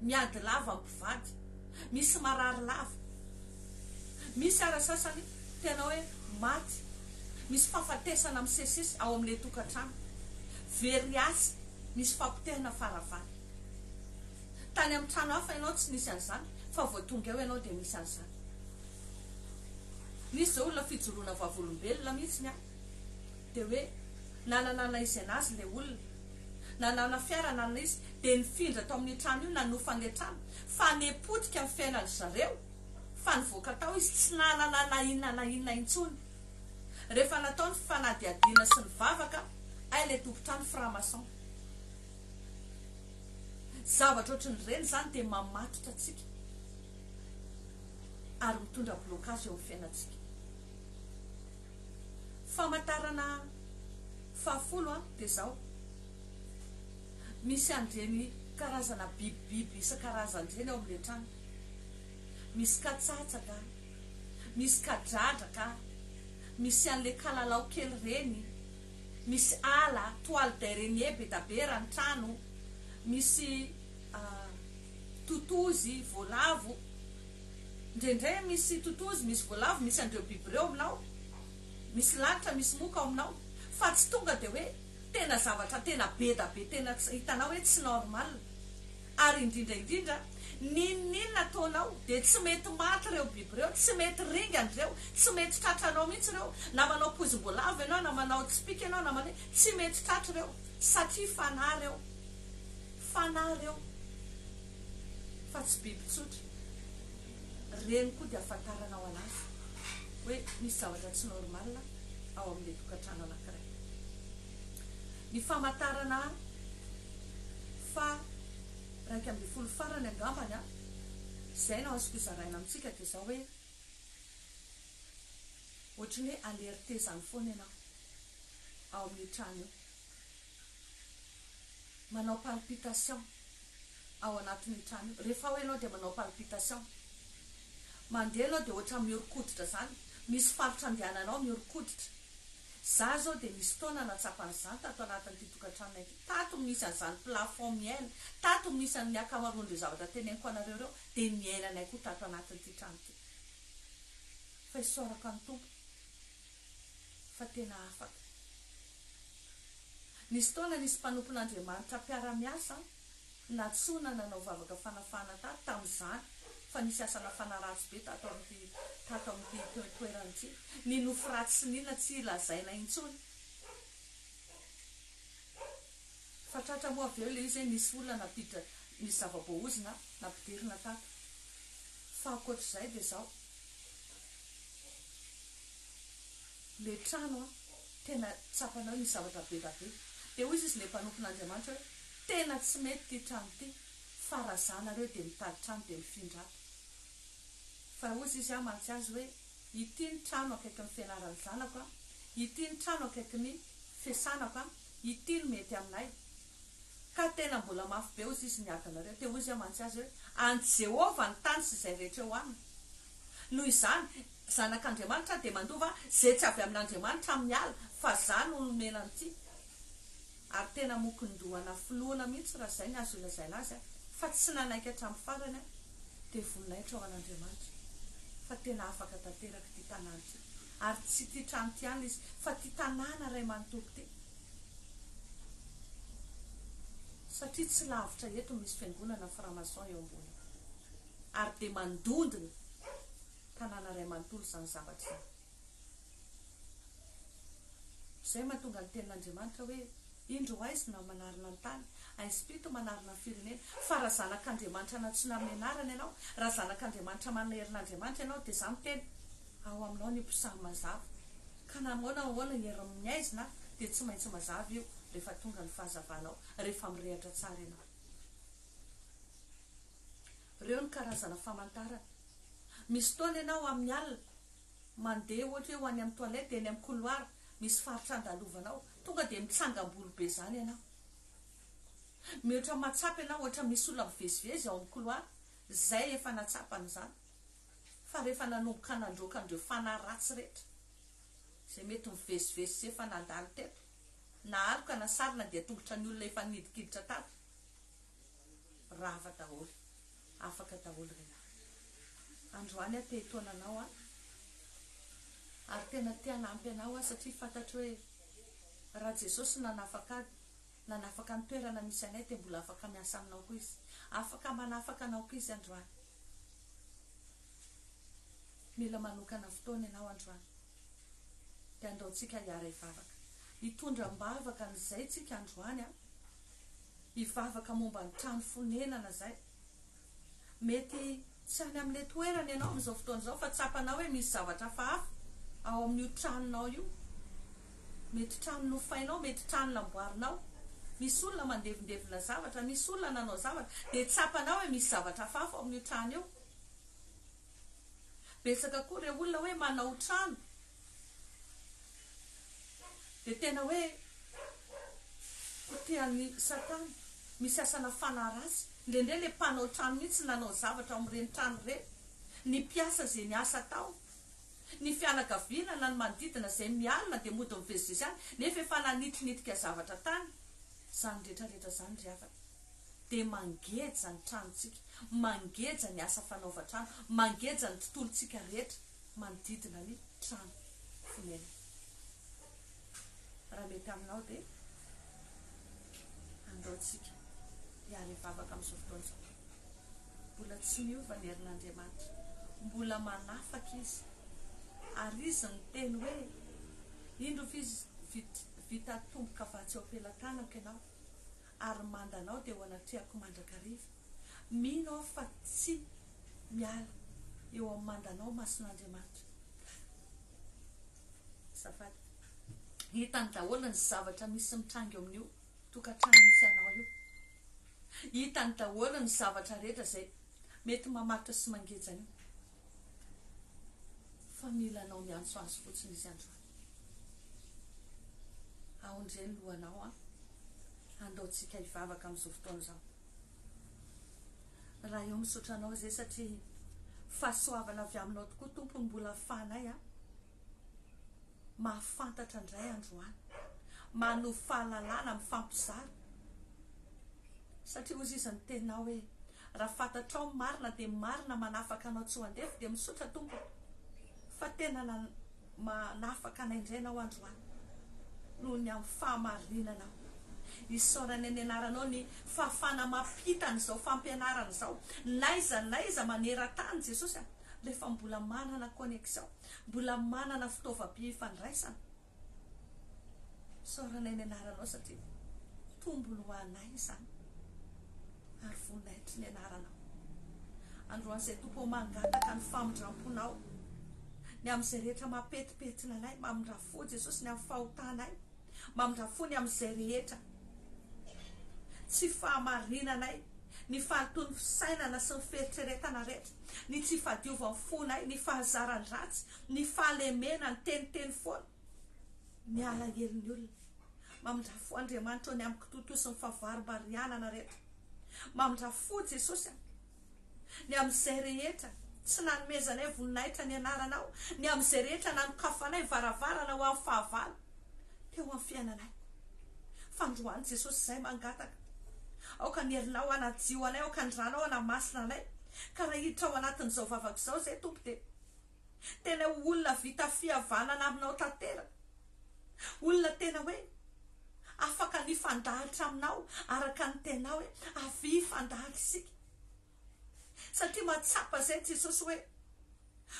Speaker 1: Miady lava mpivady, misy marary lava, misy ara sasany tena hoe maty, misy fahafatesana misesisesy ao amin'ilay tokantrano, very asa, misy fapotehina fara valo. Tany amin'ny trano hafa ianao tsy nisy an'izany fa vao tonga eo ianao dia misy an'izany. Nisy izao olona fijoroana vavolombelona mihitsy ny ahy. Dia hoe na nanana izay nazy ilay olona, nanana fiara nanana izy, dia nifindra tao amin'io trano io nanofa ilay trano, fa ne potika ny fiainan-dry zareo, fa nivoaka tao izy tsy nanana na inona na inona intsony. Rehefa natao ny fanadihadiana sy ny vavaka hay ilay tompon-trano franc-maçon. Zavatra ohatrin'ireny izany dia mamatotra antsika ary mitondra blocage eo amin'ny fiainantsika. Famantarana fahafolo dia izao, misy an'ireny karazana bibibiby isan-karazany ireny ao amin'ilay trano. Misy katsatsaka, misy kadradraka, misy an'ilay kalalao kely ireny, misy ala, toile d'araignée be da be raha ny trano, misy totozy, voalavo. Indraindray misy totozy, misy voalavo, misy an'ireo biby ireo aminao, misy lalitra, misy moka ao aminao, fa tsy tonga dia hoe tena zavatra tena be da be tena tsy hitanao hoe tsy normal. Ary indrindra indrindra, n'inon'inona ataonao dia tsy mety maty ireo biby ireo, tsy mety ringana ireo, tsy mety tratra anao mihitsy ireo, na manao poizim-boalavo ianao, na manao tsipìka ianao, na manao, tsy mety tratra ireo, satria fanahy ireo. Fanahy ireo fa tsy biby tsotra. Ireny koa dia ahafantarana ao anaty hoe misy zavatra tsy normal ao amin'ilay tokantrano anankiray. Ny famantarana faha iraika ambin'ny folo farany angambany izay no azoko zaraina amintsika dia izao hoe ohatran'ny hoe alerter izany foana ianao ao amin'io trano io. manao palpitation ao anatin'io trano io, rehefa ao ianao dia manao palpitation, mandeha ianao dia ohatra mihoron-koditra izany, misy faritra andehananao mihoron-koditra, za izao dia nisy fotoana nahatsapan'izany tato anatin'ity tokantranonay ity, tato no nisy an'izany plafond miaina, tato no nisy an'ny ankamaroan'ireo zavatra teneniko anareo ireo, dia niainanay koa tato anatin'ity trano ity, fa isaorako an'i Tompo. fa tena afaka. Nisy fotoana nisy mpanompon'Andriamanitra mpiara-miasa nantsoina nanao vavaka fanafahana tato tamin'izany fa nisy asa nafana ratsy be tato amin'ity tato amin'ity toerana ity. Ny nofy ratsy sy ny inona tsy lazaina intsony fa tratra moa avy eo ilay izy hoe nisy olona nampiditra nisy zava-boaozona nampidirina tato fa ankoatr'izay dia izao. le trano an, tena tsapany ao misy zavatra be da be, de hoy izy le mpanompon'Andriamanitra hoe tena tsy mety ity trano ity fa raha za nareo de mitady trano de mifindra ato, fa hoy izy aho mantsy azy hoe ity ny trano akaikin'ny fianaran'ny zanako an, ity ny trano akaikin'ny fiasanako an, ity no mety aminay, ka tena mbola mafy be hozy izy niady anareo. Dia hoy izy amantsy azy hoe, An'i Jehovah ny tany sy izay rehetra eo aminy. Noho izany, zanak' Andriamanitra dia mandova izay tsy avy amin' Andriamanitra amin'ny ala, fa izaho no nomena an'ity. Ary tena mokin-doha nafoloana mihitsy raha izay ny azo ilazaina azy, fa tsy nanaiky hatramin'ny farany aho. Dia voninahitra ho an' Andriamanitra fa tena afaka tanteraka ity tanàna ity. Ary tsy ity trano ity ihany izy, fa ity tanàna iray manontolo ity. Satria tsy lavitra eto no misy fiangonana franc-maçon eo ambony ary dia mandondona tanàna iray manontolo izany zavatra izany. Izay mahatonga ny tenin'Andriamanitra hoe, Indro ho aizina no manarina ny tany, ainsim-pito no manarina ny firenena. Fa raha zanak'Andriamanitra nantsoina amin'ny anarany ianao, raha zanak'Andriamanitra manana herin'Andriamanitra ianao, dia izany tena. Ao aminao ny mpisamy mazava. Ka na ahoana ahoana ny herim ny aizina dia tsy maintsy mazava io rehefa tonga ny fahazavanao, rehefa mirehatra tsara ianao. Reo ny karazana famantarana. Misy fotoana ianao amin ny alina, mandeha ohatra hoe ho any amin ny toilette, eny amin ny couloir misy faritra andalovanao, tonga dia mitsangam bolo be zany ianao. Mihoatra ny mahatsapa ianao ohatra misy olona mivezivezy ao amin ny couloir, zay efa nahatsapa an izany. Fa rehefa nanomboka nandroaka an'ireo fanahy ratsy rehetra izay mety mivezivezy sy efa nandalo teto, na aloka na sarona dia tongotra ny olona efa nidikiditra tato rava daholo. Afaka daholo ry lahy. Androany aho te hitaona anao an! Ary tena te hanampy anao aho satria fantatro hoe raha Jesosy no nanafaka ahy Nanafaka ny toerana misy anay dia mbola afaka miasa aminao koa izy. Afaka manafaka anao koa izy androany. Mila manokana fotoana ianao androany. Dia andaontsika hiara-hivavaka. Hitondra am-bavaka an'izay tsika androany an. Hivavaka momba ny trano fonenana izay. Mety tsy any amin'ilay toerana ianao amin'izao fotoana izao fa tsapanao hoe misy zavatra hafahafa ao amin'io tranonao io. Mety trano nofainao, mety trano namboarinao. Misy olona mandevindevina zavatra, misy olona nanao zavatra, dia tsapanao hoe misy zavatra hafahafa ao amin'io trano io. Betsaka koa ireo olona hoe manao trano, Dia tena hoe potehan'i Satana. Misy asana fanahy ratsy. Indraindray ilay mpanao trano mihitsy nanao zavatra ao amin'ireny trano ireny. Ny mpiasa izay niasa tao. Ny fianakaviana na ny manodidina izay mialona dia mody mivezivezy any nefa efa nanitrinitnika zavatra tany. Izany rehetrarehetra izany ry havana. dia mangeja ny tranontsika, mangeja ny asa fanaovan-trano, mangeja ny tontolontsika rehetra manodidina ny trano fonenana. Raha mety aminao dia andao tsika hiara hivavaka amin'izao fotoana izao. Mbola tsy miova ny herin'Andriamanitra, mbola manafaka Izy, ary Izy niteny hoe, Indro vita tomboka vatsy eo am-pelan-tanako ianao, ary manda anao dia ho anatrehako mandrakariva. Mino aho fa tsy miala eo amin'ny mandanao mason'Andriamanitra. Azafady. Hitany daholo ny zavatra misy mitranga eo amin'io tokantrano misy anao io. Hitany daholo ny zavatra rehetra izay mety mamaritra sy mangeja an'io. Fa mila anao miantso azy fotsiny izy androany. Aondre ny lohanao an! Andaontsika hivavaka amin'izao fotoana izao. Ray ô misaotra anao izay satria fahasoavana avy aminao tokoa Tompo no mbola afahanay an! mahafantatra indray androany, manovo fahalalana, mifampizara. Satria hozy izy ny tenao hoe, raha fantatrao ny marina dia marina manafaka anao tsy ho andevo dia misaotra tompoko fa tena manafaka anay indray ianao androany noho ny amin'ny fahamarinanao. Isaorany ny anaranao ny fahafahana mampita an'izao fampianarana izao n'aiza n'aiza maneran-tany Jesosy a! rehefa mbola manana connexion. Mbola manana fitaovam-pifandraisana. Isaoranay ny anaranao satria tombony ho anay izany ary voninahitry ny anaranao. Androany izay Tompo ô mangataka ny famindramponao ny amin'izay rehetra mampetipetina anay, mamindra fo Jesosy ny amin'ny fahotanay. Mamindra fo ny amin'izay rehetra tsy fahamarinanay, ny fahalotoan'ny fisainana sy ny fieritreretana rehetra, ny tsy fahadiovan'ny fonay, ny fahazaran-dratsy, ny fahalemena, ny teniteny foana, ny alahelon'ny olona. Mamindra fo Andriamanitra o ny amin'ny kitontosan'ny fahavarimbarianana rehetra. Mamindra fo Jesosy a. Ny amin'izay rehetra tsy nanomezanay voninahitra ny anaranao, ny amin'izay rehetra nanokafanay varavarana ho amin'ny fahavalo teo amin'ny fiainanay. Fa androany Jesosy izahay mangataka, aoka ny herinao hanadio anay, aoka ny ranao hanamasina anay, ka raha hiditra ao anatin'izao vavako izao izahay Tompo dia tena ho olona vita fihavanana aminao tanteraka. Olona tena hoe afaka ny hifandahatra aminao araka ny tenao hoe avia hifandahatra isika. Satria mahatsapa izay Jesosy hoe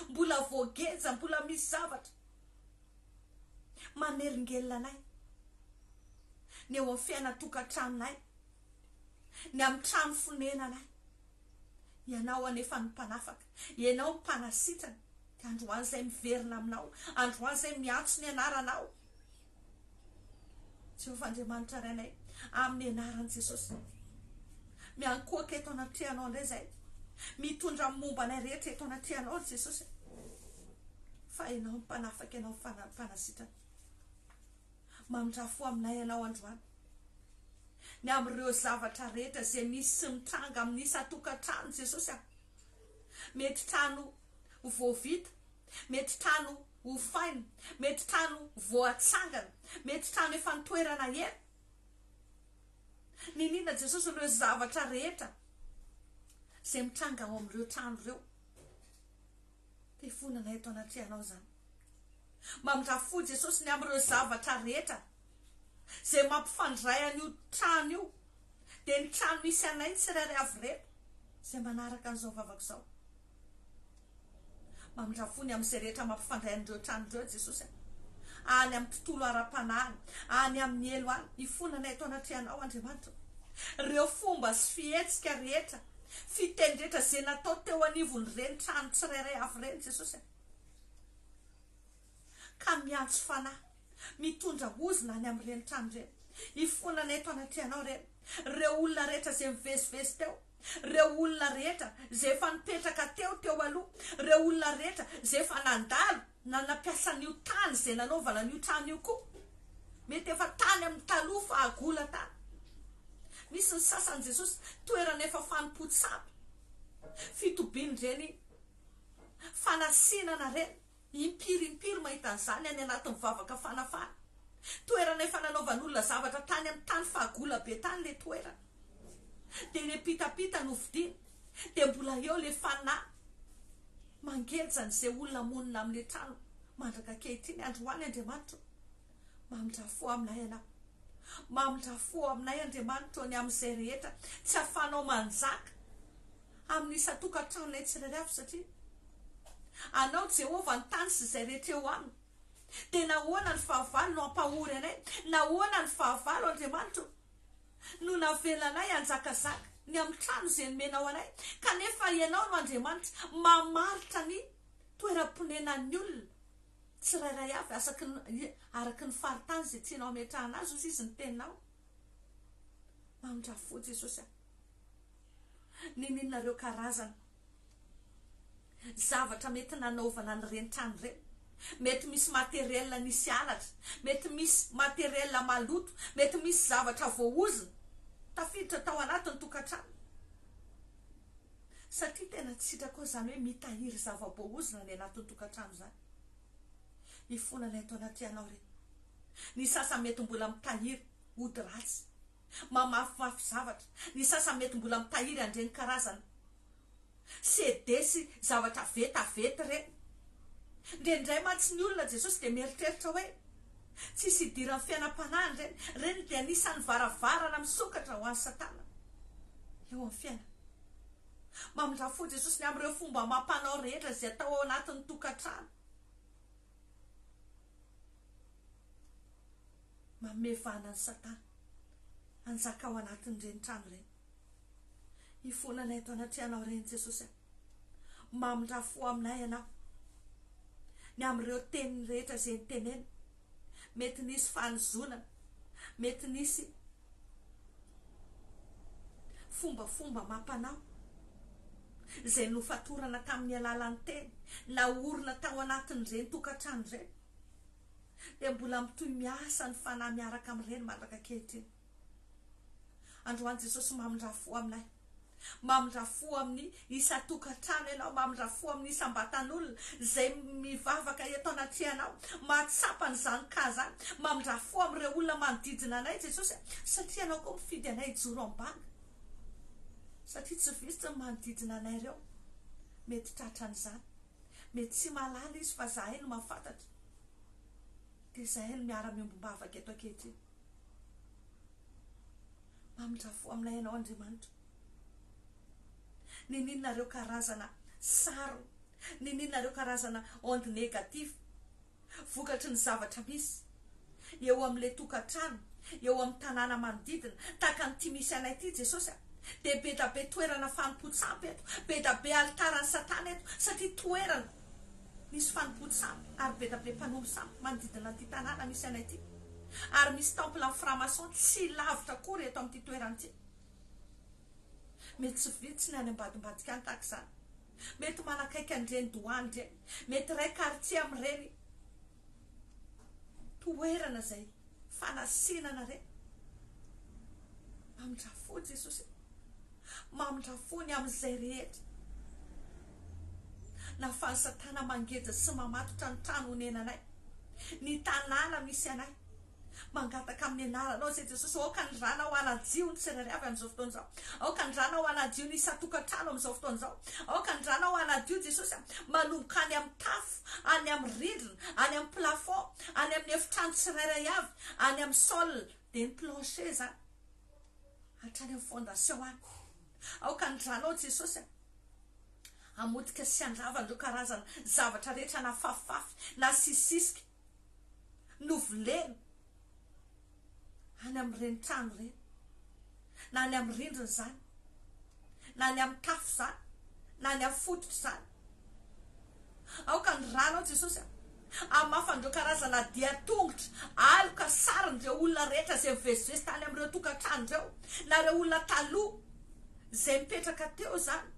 Speaker 1: mbola voageja, mbola misy zavatra manelingelina anay ny eo amin'ny fiainana tokantranonay, ny amin'ny trano fonenanay. Ianao anefa no mpanafaka, Ianao mpanasitrana, dia androany izay miverina aminao, androany izay miantso ny anaranao. Jehovah Andriamanitra ry anay, amin'ny anaran'i Jesosy, miankohoka eto anatrehanao indray izay, mitondra amin'ny momba anay rehetra eto anatrehanao ry Jesosy, fa Ianao ny mpanafaka, Ianao ny mpanasitrana. Mamindrafo ho aminay ianao androany. Ny amin'ireo zavatra rehetra izay misy sy mitranga amin'ny isan-tokantrano, Jesosy a. Mety trano vao vita, mety trano hofaina, mety trano vao hatsangana, mety trano efa nitoerana ela. Niniana Jesosy ireo zavatra rehetra izay mitranga ao amin'ireo trano ireo. Mpifonona eto anatrehanao izany. Mamindrafo fo Jesosy ny amin'ireo zavatra rehetra izay mampifandray an'io trano io, dia ny trano misy anay tsirairay avy ireto izay manaraka an'izao vavako izao. Mamindrafo fo ny amin'izay rehetra mampifandray an'ireo trano ireo Jesosy a. Any amin'ny tontolo ara-panahy any, any amin'ny helo any, hifonana eto anatrehanao Andriamanitra. Ireo fomba sy fihetsika rehetra. Fitendrendra izay natao teo anivon'ireny trano tsirairay avy ireny Jesosy a. Ka miantso fanahy, mitondra ozona any amin'ireny trano ireny, hifonana eto anatrehanao ireny, ireo olona rehetra izay mivezivezy teo, ireo olona rehetra izay efa nipetraka teo teo aloha, ireo olona rehetra izay efa nandalo, na nampiasa an'io tany izay nanaovana an'io trano io koa, mety efa tany amin'ny taloha fahagola tany, misy ny sasany Jesosy toerana efa fanompoan-tsambo, fitobian'ireny fanasinana ireny, impiry impiry mahita an'izany any anatin'ny vavaka fanafana, toerana efa nanaovan'olona zavatra tany amin'ny tany fahagola be tany ilay toerana. dia le pitapita no fidina dia mbola eo le fanahy mangeja an'izay olona monina amle trano mandraka ankehitriny androany Andriamanitro mamindra fo aminay anao mamindra fo aminay Andriamanitro ny amin'izay rehetra tsy afanao manjaka amin'ny isan-tokantranonay tsirairay avy satria anao Jehovah ny tany sy izay rehetra eo aminy dia nahoana ny fahavalo no ampahory anay nahoana ny fahavalo Andriamanitro no navela anay hanjakazaka ny amin'ny trano izay nomenao anay, kanefa Ianao no Andriamanitra mamaritra ny toeram-ponenan'ny olona tsirairay avy, asaky ny, araka ny faritany izay tianao hametrahana azy, hoy izy, ny Teninao. Mamindrafo, Jesosy a. Ninianareo karazana zavatra mety nanaovana an'ireny trano ireny? Mety misy matériel nisy halatra, mety misy matériel maloto, mety misy zavatra voaozona tafiditra tao anatin'ny tokantrano. Satria tena tsy sitrako aho izany hoe mitahiry zava-boaozona any anatin'ny tokantrano izany. Ifonana eto anatrehanao ireny. Ny sasany mety mbola mitahiry ody ratsy. mamafimafy zavatra, ny sasany mety mbola mitahiry an'ireny karazana CD sy zavatra vetaveta ireny. Indraindray mantsy ny olona, Jesosy dia mieritreritra hoe, Tsisy idiran'ny fiainam-panahiny ireny. Ireny dia anisan'ny varavarana misokatra ho an'i Satana eo amin'ny fiainana. Mamindrà fo Jesosy ny amin'ireo fomba amam-panao rehetra izay atao ao anatin'ny tokantrano. Manome vahana an'i Satana hanjaka ao anatin'ireny trano ireny. Hifonana eto anatrehanao ireny Jesosy a! Mamindrà fo aminay Ianao. Ny amin'ireo teny rehetra izay nitenenina, mety nisy fanozonana, mety nisy Fombafomba amam-panao izay nofatorana tamin'ny alalan'ny teny naorina tao anatin'ireny tokantrano ireny dia mbola mitohy miasa ny fanahy miaraka amin'ireny mandraka ankehitriny. Androany Jesosy mamindrà fo aminay. Mamindra fo amin'ny isan-tokantrano ianao, mamindra fo amin'ny isam-batan'olona izay mivavaka eto anatrehanao, mahatsapa an'izany cas izany. Mamindra fo amin'ireo olona manodidina anay Jesosy a, satria Ianao koa mifidy anay hijoro am-banga, satria tsy vitsy ny manodidina anay ireo mety tratra an'izany. Mety tsy mahalala izy fa izahay no mahafantatra, dia izahay no miara-miombom-bavaka eto ankehitriny. Mamindrafo fo aminay ianao Andriamanitra. Niniana ireo karazana sarony, niniana ireo karazana onde negatif vokatry ny zavatra misy eo amin'ilay tokantrano, eo amin'ny tanàna manodidina, tahaka an'ity misy anay ity Jesosy a! dia be da be toerana fanompoan-tsampy eto, be da be alitaran'i Satana eto, satria toerana Misy fanompoan sampy ary be da be mpanompo sampy manodidina ity tanàna misy anay ity. Ary misy temple an'ny franc-maçon tsy lavitra akory eto amin'ity toerana ity. Mety tsy vitsy ny any ambadimbadika any tahaka izany. Mety manakaiky an'ireny douane ireny. Mety iray quartier amin'ireny. toerana izay fanasena anareo mamindrafo fo Jesosy e, mamindrafo fo ny amin'izay rehetra nahafahan'i satana mangeja sy mamatotra ny trano onenanay, ny tanàna misy anay. Mangataka amin'ny anaranao izay Jesosy ô aoka ny ranao hanadio ny tsirairay avy amin'izao fotoana izao aoka ny ranao hanadio ny isan-tokantrano amin'izao fotoana izao aoka ny ranao hanadio Jesosy a manomboka any amin'ny tafo any amin'ny rindrina any amin'ny plafond any amin'ny efitrano tsirairay avy any amin'ny sol dia ny plancher izany hatrany amin'ny fondation any aoka ny ranao Jesosy a amotika sy andrava an'ireo karazana zavatra rehetra na fafifafy na sisisika novolena any amin'ireny trano ireny, na ny amin'ny rindrina izany, na ny amin'ny tafo izany, na ny amin'ny fototra izany. Aoka ny ranao, Jesosy a, hamafana ireo karazana dian-tongotra, aloka sarin'ireo olona rehetra izay mivezivezy tany amin'ireo tokantrano ireo, na ireo olona taloha izay nipetraka teo izany.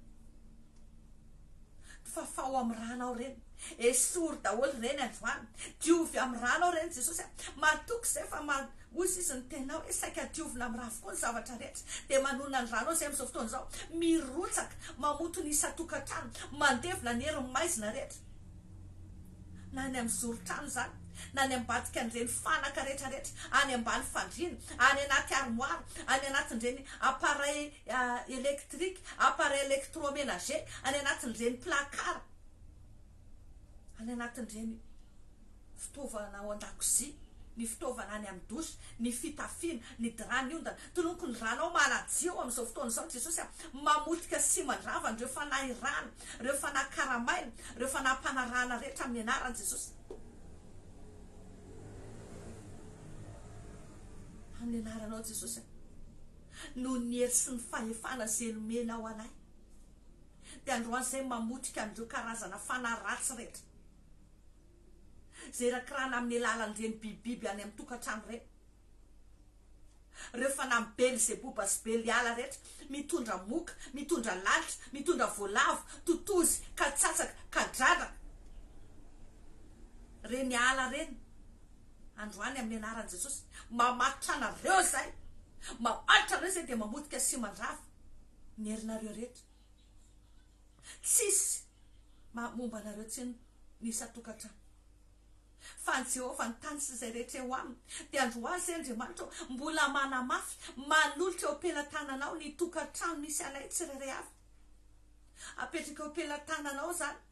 Speaker 1: Fafao amin'ny rana ao reny. Esory daholo reny androany. Diovy amin'ny rana ao reny Jesosy a. Matoky izay fa ma hoy izy izy ny tenao hoe saika diovina amin'ny rà avokoa ny zavatra rehetra. Dia manonona ny rano ao izay amin'izao fotoana izao. Mirotsaka, mamoto ny isan-tokantrano, mandevona ny herin'ny maizina rehetra. na any amin'ny zoron-trano izany, na any ambadikan'ireny fanaka rehetra rehetra, any ambany fandriana, any anaty armoire, any anatin'ireny appareils électriques, appareils électroménagers, any anatin'ireny placard, any anatin'ireny fitaovana ao an-dakozia, ny fitaovana any amin'ny douche, ny fitafiana, ny drap niondana, toloko ny ranao manadio amin'izao fotoana izao Jesosy a, mamotika sy mandrava an'ireo fanahy rana ireo fanahy karamaina, ireo fanahy mpanarahana rehetra amin'ny anaran'i Jesosy. Amin'ny anaranao Jesosy, noho ny hery sy ny fahefana izay nomenao anay, dia androany izay mamotika an'ireo karazana fanahy ratsy rehetra izay irakirana amin'ny alalan'ireny bibibiby any amin'ny tokantrano ireny. Reo fanahy bely zeboba sy bely ala retra mitondra moka mitondra lalitra mitondra voalavo totozy katsatsaka kadradraka reny ala reny androany aminy anarany jesosy mamaritra anareo zay mamaritra anareo zay de mamotika sy mandrava ny herinareo retra tsisy maha momba anareo tsiny ny isan-tokantrano. Fa an'i Jehovah ny tany sy izay rehetra eo aminy. Dia andro ho ahy izay Andriamanitra ô, mbola manamafy, manolotra eo am-pelatananao ny tokantrano misy anay tsirairay avy. Apetraka eo am-pelatananao izany,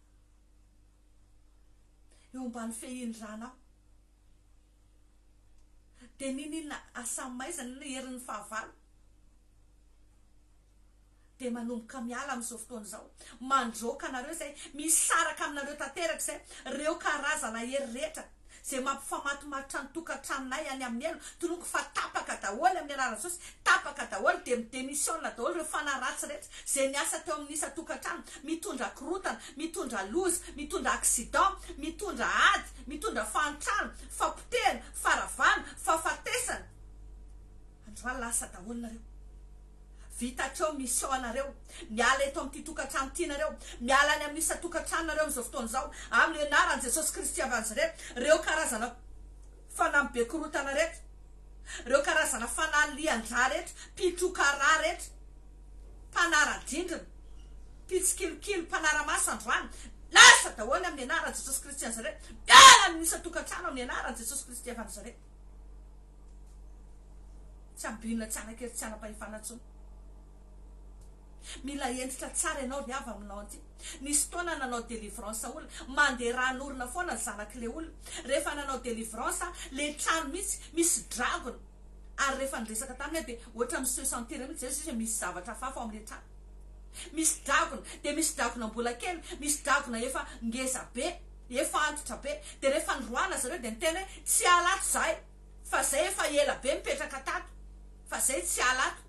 Speaker 1: eo ambany fehin-dranao. Dia n'inon'inona asa maizina na herin'ny fahavalo. dia manomboka miala amin'izao fotoana izao, mandroaka anareo izay misaraka aminareo tanteraka izay, ireo karazana hery rehetra izay mampifamatomarotra ny tokantranonay any amin'ny helo, tononiko fa tapaka daholo amin'ny alalan'i Jesosy, tapaka daholo, dia midemissiona daholo ireo fanahy ratsy rehetra izay miasa teo amin'ny isan-tokantrano, mitondra korotana, mitondra loza, mitondra accident, mitondra ady, mitondra fahantrana, fapotehana, faharavana, fahafatesana. Andro alina asa daholo nareo. Vita hatreo mission anareo. Miala eto amin'ity tokantrano ity nareo. Miala any amin'ny isan-tokantrano nareo amin'izao fotoana izao. Amin'ny anaran'i Jesosy Kristy avy Nazareth. Reo karazana fanahy be korotana reto. Reo karazana fanahy lian-drà reto. Mpitroka rà reto. Mpanara-drindrina. Mpitsikilikily, mpanara-maso androany. Lasa daholo amin'ny anaran'i Jesosy Kristy Nazareth. Miala amin'ny isan-tokantrano amin'ny anaran'i Jesosy Kristy avy Nazareth. Tsy ampiana tsara kely tsy ara-pahefana intsony. Mila hentitra tsara ianao ry havy aminao anty. Nisy fotoana nanao delivrance olona, mandeha ran'orona foana zanak'ilay olona. Rehefa nanao delivrance ilay trano mihitsy misy dragona ary rehefa niresaka taminy aho dia ohatran'ny mi-se sentir mihitsy izay izy hoe misy zavatra hafahafa ao amin'ilay trano. Misy dragona dia misy dragona mbola kely, misy dragona efa ngeza be. Efa antitra be, dia rehefa noroahina zareo dia niteny hoe tsy hiala ato zahay fa zay efa ela be mipetraka tato fa zay tsy hiala ato.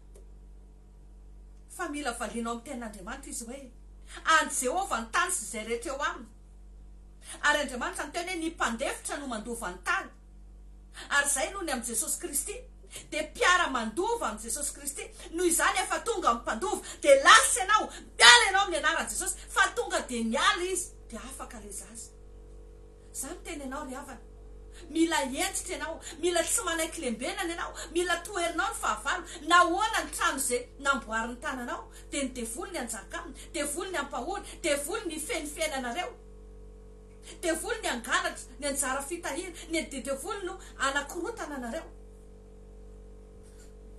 Speaker 1: Fa mila valiana ao amin'ny tenin'Andriamanitra izy hoe, An'i Jehovah ny tany sy izay rehetra eo aminy. Ary Andriamanitra niteny hoe, Ny mpandefitra no mandova ny tany. Ary izay no ny amin'i Jesosy Kristy. Dia mpiara mandova amin'i Jesosy Kristy. Noho izany efa tonga amin'ny mpandova. Dia lasa ianao. Miala ianao amin'ny anaran'i Jesosy. Fa tonga dia niala izy. Dia afaka ilay zaza. Izaho miteny anao ry havana. Mila hentitra ianao. Mila tsy manaiky lembenana ianao. Mila toherinao ny fahavalo. Nahoana ny trano izay namboarin'ny tananao. Dia ny devoly ny hanjaka aminy. Devoly ny hampahory. Devoly ny hifehy ny fiainanareo. Devoly ny angalatra, ny anjara fitahiana, ny edy devoly no anakorontana anareo.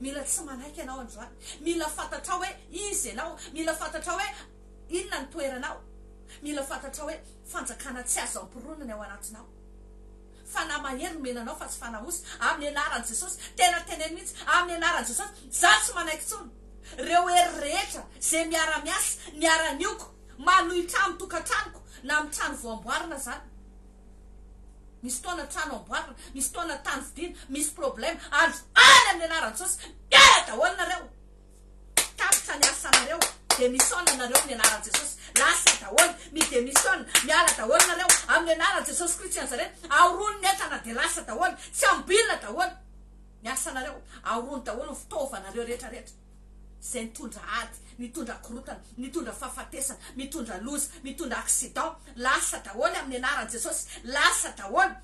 Speaker 1: Mila tsy manaiky ianao androany. Mila fantatrao hoe iza ianao. Mila fantatrao hoe inona ny toeranao. Mila fantatrao hoe fanjakana tsy azo amporonina ny ao anatinao. Fanahy mahery no mena anao fa tsy fanahy osy. Amin'ny anaran'i Jesosy. Tena teneno mihitsy. Amin'ny anaran'i Jesosy. Izaho tsy manaiky intsony. Ireo hery rehetra izay miara-miasa, miara-nioko. Manohitra amin'ny tokantranoko na amin'ny trano vao amboarina zany. Misy fotoana trano amboarina, misy fotoana tany vidiana, misy problème, andro any amin'ny anaran-tsosy, miala daholo nareo, tapitra ny asanareo, démissionne nareo amin'ny anaran'i Jesosy, lasa daholo, mi-démissionne, miala daholo nareo, amin'ny anaran'i Jesosy Kristy i Nazareth, ahoroany ny entana dia lasa daholo, tsy amboina daholo ny asanareo, ahoroany daholo ny fitaovanareo rehetra rehetra. izay nitondra ady, nitondra korotana, nitondra fahafatesana, mitondra loza, mitondra accident, lasa daholo amin'ny anaran'i Jesosy, lasa daholo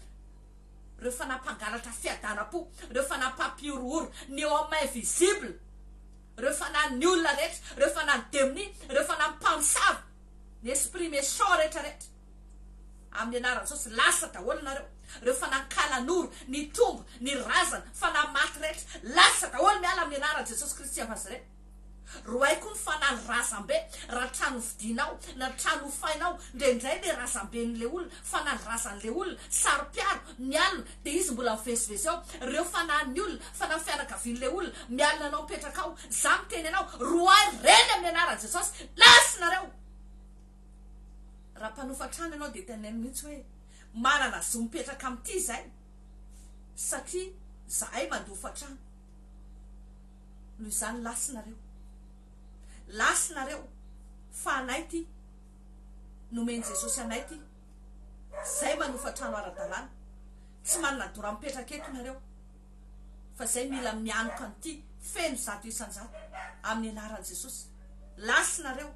Speaker 1: ireo fanahy mpangalatra fiadanam-po, ireo fanahy mpampihorohoro, ny eo amin'ny main visible, ireo fanahy ny olona rehetra, ireo fanahy ny demonia, ireo fanahy mpamosavy, ny esprit méchant rehetra rehetra. Amin'ny anaran'i Jesosy lasa daholo nareo reo fanahy kalanoro ny tombo ny razana fanahy maty rehetra lasa daholo miala amin'ny anaran'i Jesosy Kristy av Nazareth rohay koa ny fanahy razambe raha trano hovidianao na trano hofainao ndraindray le razamben'le olona fanahy razan'le olona saropiaro mialona de izy mbola mivezivezy ao reo fanahin'ny olona fanahy fianakavian'le olona mialona anao mipetraka ao za miteny anao rohay reny amin'ny anaran'i Jesosy lasy nareo Raha mpanofa trano ianao dia teneno mihitsy hoe manana zo mipetraka amin'ity izay satria zahay mandofa trano. Noho izany lasinareo. Lasinareo fa anay ity. Nomen'i Jesosy anay ity. Zay manofa trano ara-dalàna. Tsy manana dora mipetraka eto nareo fa zay mila mianoka an'ity feno zato isan-jato amin'ny anaran'i Jesosy. Lasinareo.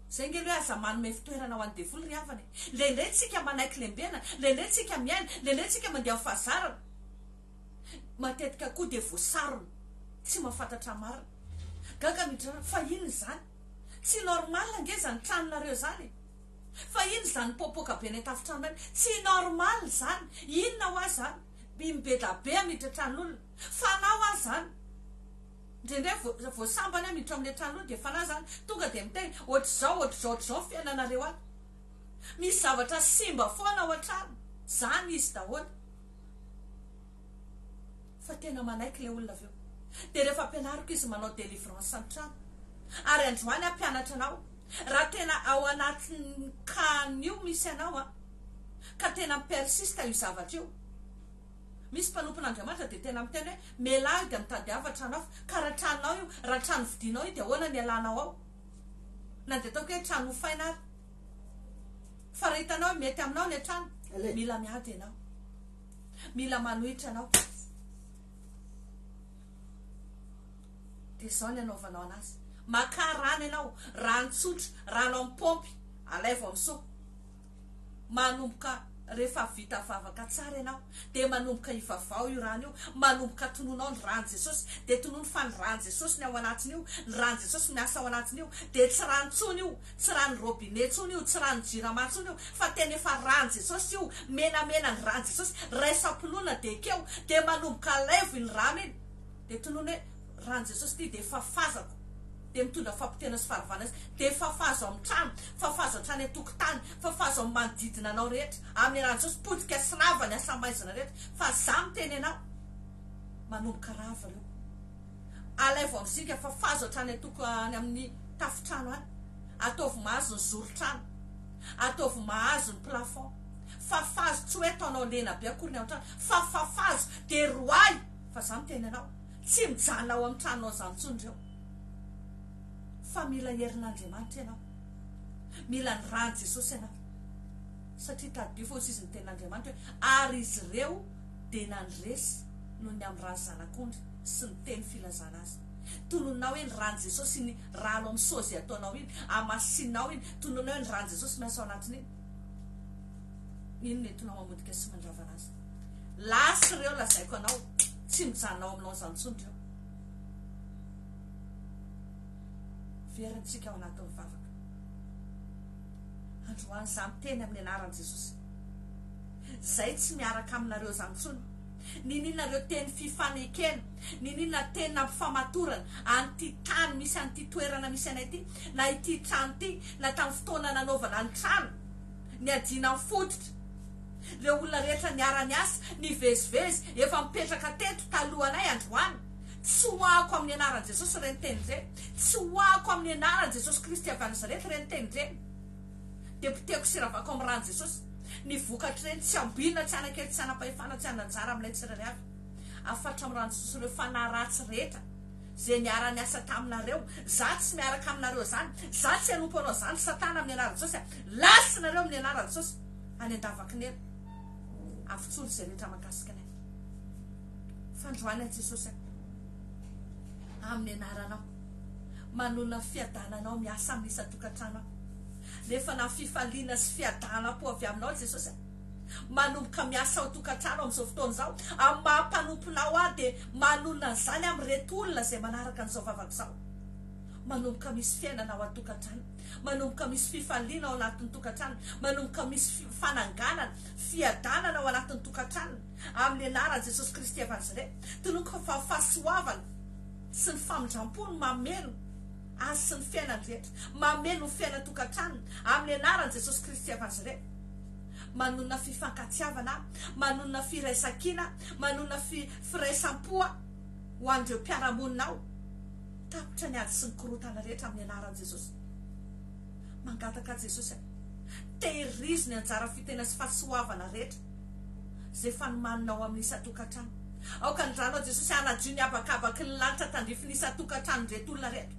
Speaker 1: Zay nge le aza manome fitoerana ho an'ny devoly ry havana e! Lele tsika manaiky lembena, lele tsika miaina, lele tsika mandeha ho fahazarana. Matetika koa dia voasarona tsy mahafantatra marina. Gaga midrara fa inona izany? Tsy normal ange izany tranonareo izany e! Fa inona izany mipoapoaka be any an-tafontrano any? Tsy normal izany! Inona hoa izany? By mibedabe hamiditra tranon'olona? Fanahy hoa izany? Ndrendrey vo vo sambany a miditra amle trano io de fanahy zany tonga de miteny otrzao otrzao otrzao ny fiainanareo any misy zavatra simba foana ao antrano zany izy daholo fa tena manaiky le olona aveo de refa ampianariko izy manao delivrance any trano ary androany ah mpianatra anao raha tena ao anatin'ny cas nio misy anao a ka tena mi persiste io zavatra io Misy mpanompon'Andriamanitra dia tena miteny hoe, Mialà aho dia mitady hafa trano hafa. Ka raha tranonao io, raha trano vidinao io dia ahoana ny hialanao ao? Na dia ataoko hoe trano hofaina ary. Fa raha hitanao hoe mety aminao ilay trano, mila miady ianao. Mila manohitra anao. Dia izao ny anaovanao anazy. Makà rano ianao, rano tsotra, rano amin'ny paompy, alaivo amin'ny soa. manomboka rehefa vita vavaka tsara ianao dia manomboka ivavaho io rano io, manomboka tononao ny ran'i Jesosy, dia tonony fa ny ran'i Jesosy ny ao anatin'io, ny ran'i Jesosy no miasa ao anatin'io, dia tsy rano intsony io, tsy ranon'ny robinet intsony io, tsy ranon'ny jirama intsony io, fa tena efa ran'i Jesosy io, menamena ny ran'i Jesosy, raisam-pinoana dia ekeo, dia manomboka alaivo iny rano iny, dia tonony hoe. Ran'i Jesosy ity dia fafazako dia mitondra fapoteana sy faharavana izy dia fafazo amin'ny trano fafazo hatrany an-tokotany fafazo amin'ny manodidina anao rehetra amin'ny ran'i Jesosy potika sy rava ny asamaizina rehetra fa za miteny anao manomboka rava reo alaivo amin'ny zinga fafazo hatrany an-toko any amin'ny tafotrano any ataovy mahazo ny zoron-trano ataovy mahazo ny plafond fafazo tsy hoe ataonao lena be akory ny ao an-trano fa fafazo dia roahy fa za miteny anao Tsy mijanona ao amin'ny tranonao izany intsony ireo, fa mila ny herin'Andriamanitra ianao. Mila ny ran'i Jesosy ianao, satria tadidio fa hoy izy ny tenin'Andriamanitra hoe, Ary izy ireo dia nandresy noho ny amin'ny ran'ny Zanak'ondry sy ny teny filazana azy. Tononina ao hoe ny ran'i Jesosy iny rano amin'ny sozy ataonao iny, hamasinina ao iny, tononina hoe ny ran'i Jesosy miasa ao anatin'iny, iny nentinao mamotika sy mandravana azy. Last ireo lazaiko anao, tsy mijanona ao amin'ny lounge intsony ireo. Verintsika ao anatin'ny vavaka. Androany izaho miteny amin'ny anaran'i Jesosy. Izay tsy miaraka aminareo izany intsony. Nininareo teny fifanekena, nininona teny nampifamatorana an'ity tany misy an'ity toerana misy anay ity, na ity trano ity, na tamin'ny fotoana nanaovana ny trano. Niadiana ny fototra. Ireo olona rehetra niara-niasa, nivezivezy, efa mipetraka teto talohanay androany. Tsy hoahako amin'ny anaran'i Jesosy ireny teny ireny. Tsy hoahako amin'ny anaran'i Jesosy Kristy avy any Nazareta ireny teny ireny. Dia potehiko sy ravako amin'ny ran'i Jesosy. Ny vokatr'ireny tsy ambinina, tsy hanakely, tsy hanapahefana, tsy hanan-jara amin'ilay tsirairay avy. Afatra amin'ny ran'i Jesosy ireo fanahy ratsy rehetra. ze niara niasa taminareo, za tsy miaraka aminareo zany, za tsy hanompo anao zany satana amin'ny anaran'i Jesosy a, last nareo amin'ny anaran'i Jesosy any andavakinera, avotsory ze rehetra mahakasika anay, fandroany an'i Jesosy a, amin'ny anaranao, manona fiadananao miasa amin'ny isan-tokantrano aho, nefa na fifaliana sy fiadanam-po avy aminao Jesosy a. manomboka miasa ao tokantrano amin'izao fotoana izao, amin'ny maha mpanomponao aho dia manonona an'izany amin'ireto olona izay manaraka an'izao vavako izao. Manomboka misy fiainana ao an-tokantrano, manomboka misy fifaliana ao anatin'ny tokantrano, manomboka misy fananganana, fiadanana ao anatin'ny tokantrano, amin'ny anaran'i Jesosy Kristy evanzy re, tinoako fa fahasoavana sy ny famindrampo no mameno azy sy ny fiainany rehetra, mameno ny fiainan-tokantrano, amin'ny anaran'i Jesosy Kristy evanzy re. manonona fifankatiavana, manonona firaisankina, manonona fi, firaisam-po ho an'ireo mpiara-monina ao. Tapitra ny ady sy ny korontana rehetra amin'ny anaran'i Jesosy. Mangataka an'i Jesosy aho, tehirizo ny anjara fitena sy fahasoavana rehetra izay efa nomaninao amin'ny isan-tokantrano. Aoka ny ranao Jesosy hanadio ny habakabak'n'y lanitra tandrifin'ny isan-tokantranon-dret'olona reto.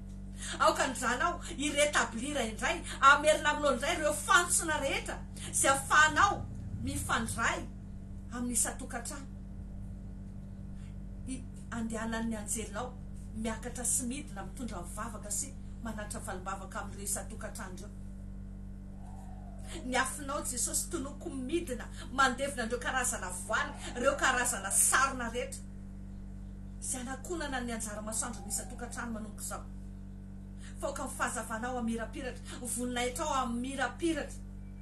Speaker 1: Aoka ny Zanao hi-retablir indray, hamerina aminao indray ireo fantsona rehetra izay ahafahanao mifandray amin'ny isan-tokantrano. Hi, andehanan'ny anjelinao miakatra sy midina, mitondra mivavaka sy manatitra valim-bavaka amin'ireo isan-tokantrano ireo. Ny afonao Jesosy, tonoko midina mandevina an'ireo karazana voaly, ireo karazana sarona rehetra. sy hanakonana ny anjara masoandron'ny isan-tokantrano manomboka izao. Faoka ny fahazavana ao Amirapiratra, ho voninahitra ao Amirapiratra,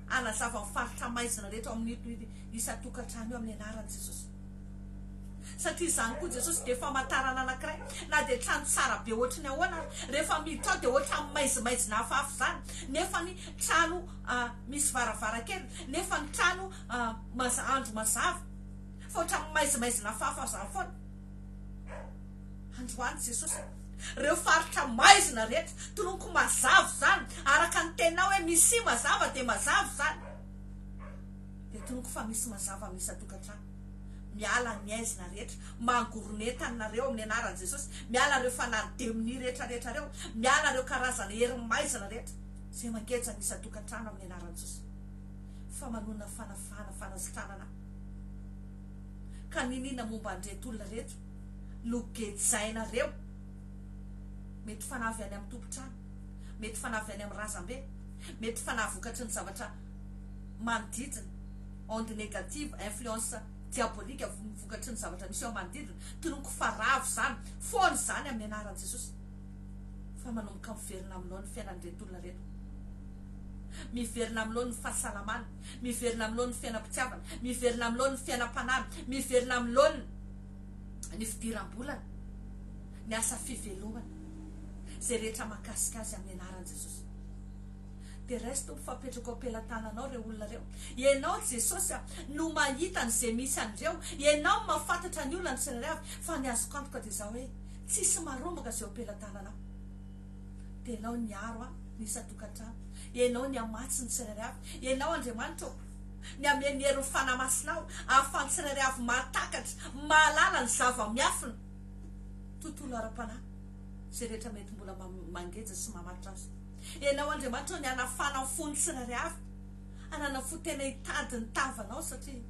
Speaker 1: hanazava ny faritra maizina rehetra ao amin'ito isan-tokantrano io amin'ny anaran'i Jesosy. Satria izany koa Jesosy dia famantarana anankiray, na dia trano tsara be ohatry ny ahoana aza, rehefa miditra ao dia ohatran'ny maizimaizina hafahafa izany, nefa ny trano misy varavarankely, nefa ny trano andro mazava. fa ohatran'ny maizimaizina fahafahazany foana. Androany Jesosy reo faritra maizina rehetra toloniko mazava zany araka ny tenao hoe misi mazava de mazava zany de toloniko fa misy mazava am isan-tokantrano miala ny aizina rehetra mangoronetany nareo amin'ny anaran'i Jesosy miala reo fanahy demoni rehetra rehetra reo miala reo karazana hery maizina rehetra zay mangeja am isan-tokantrano amin'ny anaran'i Jesosy fa manonona fanafahana fanasitranana Ka niniana momba an'ireto olona ireto no gejainareo? Mety fanahy avy any amin'ny tompon-trano, mety fanahy avy any amin'ny razambe, mety fanahy vokatry ny zavatra manodidina, onde négative, influence diabolique vokatry ny zavatra misy eo manodidina, tonoko fa ravo izany foana izany amin'ny anaran'i Jesosy fa manomboka miverina aminao ny fiainan'ireto olona ireto, miverina aminao ny fahasalamany. Miverina amin'ny laoniny fiainam-pitiavana, miverina amin'ny laoniny fiainam-panahy, miverina amin'ny laoniny ny fidiram-bolany, ny asa fivelomana, izay rehetra mahakasika azy amin'ny anaran'i Jesosy. Perez Tompo fa apetrako am-pelatananao ireo olona ireo. Ianao Jesosy a, no mahita an'izay misy an'ireo. Ianao no mahafantatra ny olana tsirairay avy, fa ny azoko antoka dia izao hoe, tsisy marombaka izay eo am-pelatananao. dia Ianao niaro ahy ny isan-tokantrano. Ianao nihamatsy ny tsirairay avy. Ianao, Andriamanitra ô, ny hameno ny herin'ny Fanahy Masina aho, ahafahan'ny tsirairay avy mahatakatra, mahalala ny zava-miafina, tontolo ara-panahy, izay rehetra mety mbola mangeja sy mamatotra azy. Ianao, Andriamanitra ô, ny hanafana ny fon'ny tsirairay avy, hanana fo tena hitady ny tavanao, satria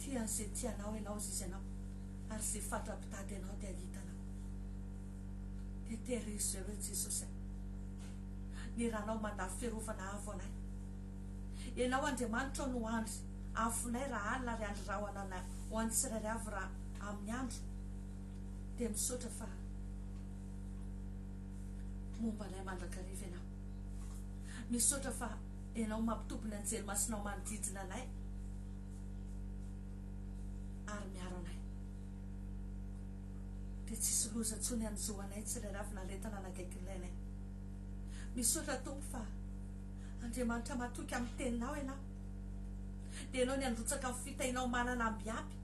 Speaker 1: tia an'izay tia Anao Ianao, azizy Anao. Ary ze fatra mpitady anao dia hitana koa. Dia terizo zay hoe Jesosy a. Ny ranao mandà fiarovana avo anay. Enao Andriamanitra no andry afonay raha alina ary andry rahona anay ho an'ny tsirairay avy raha amin'ny andro. Dia misaotra fa momba anay mandrakariva enao. Misaotra fa enao mampitopy ny anjely masinao manodidina anay. ary miaro anay dia tsisy loza tsony hanjo anay tsy ilay ravin'aretana nagaiky ny lainay misaotra tompo fa Andriamanitra matoky amin'ny teninao ianao dia ianao ny androtsaka amin'ny fitainao manana ambiaby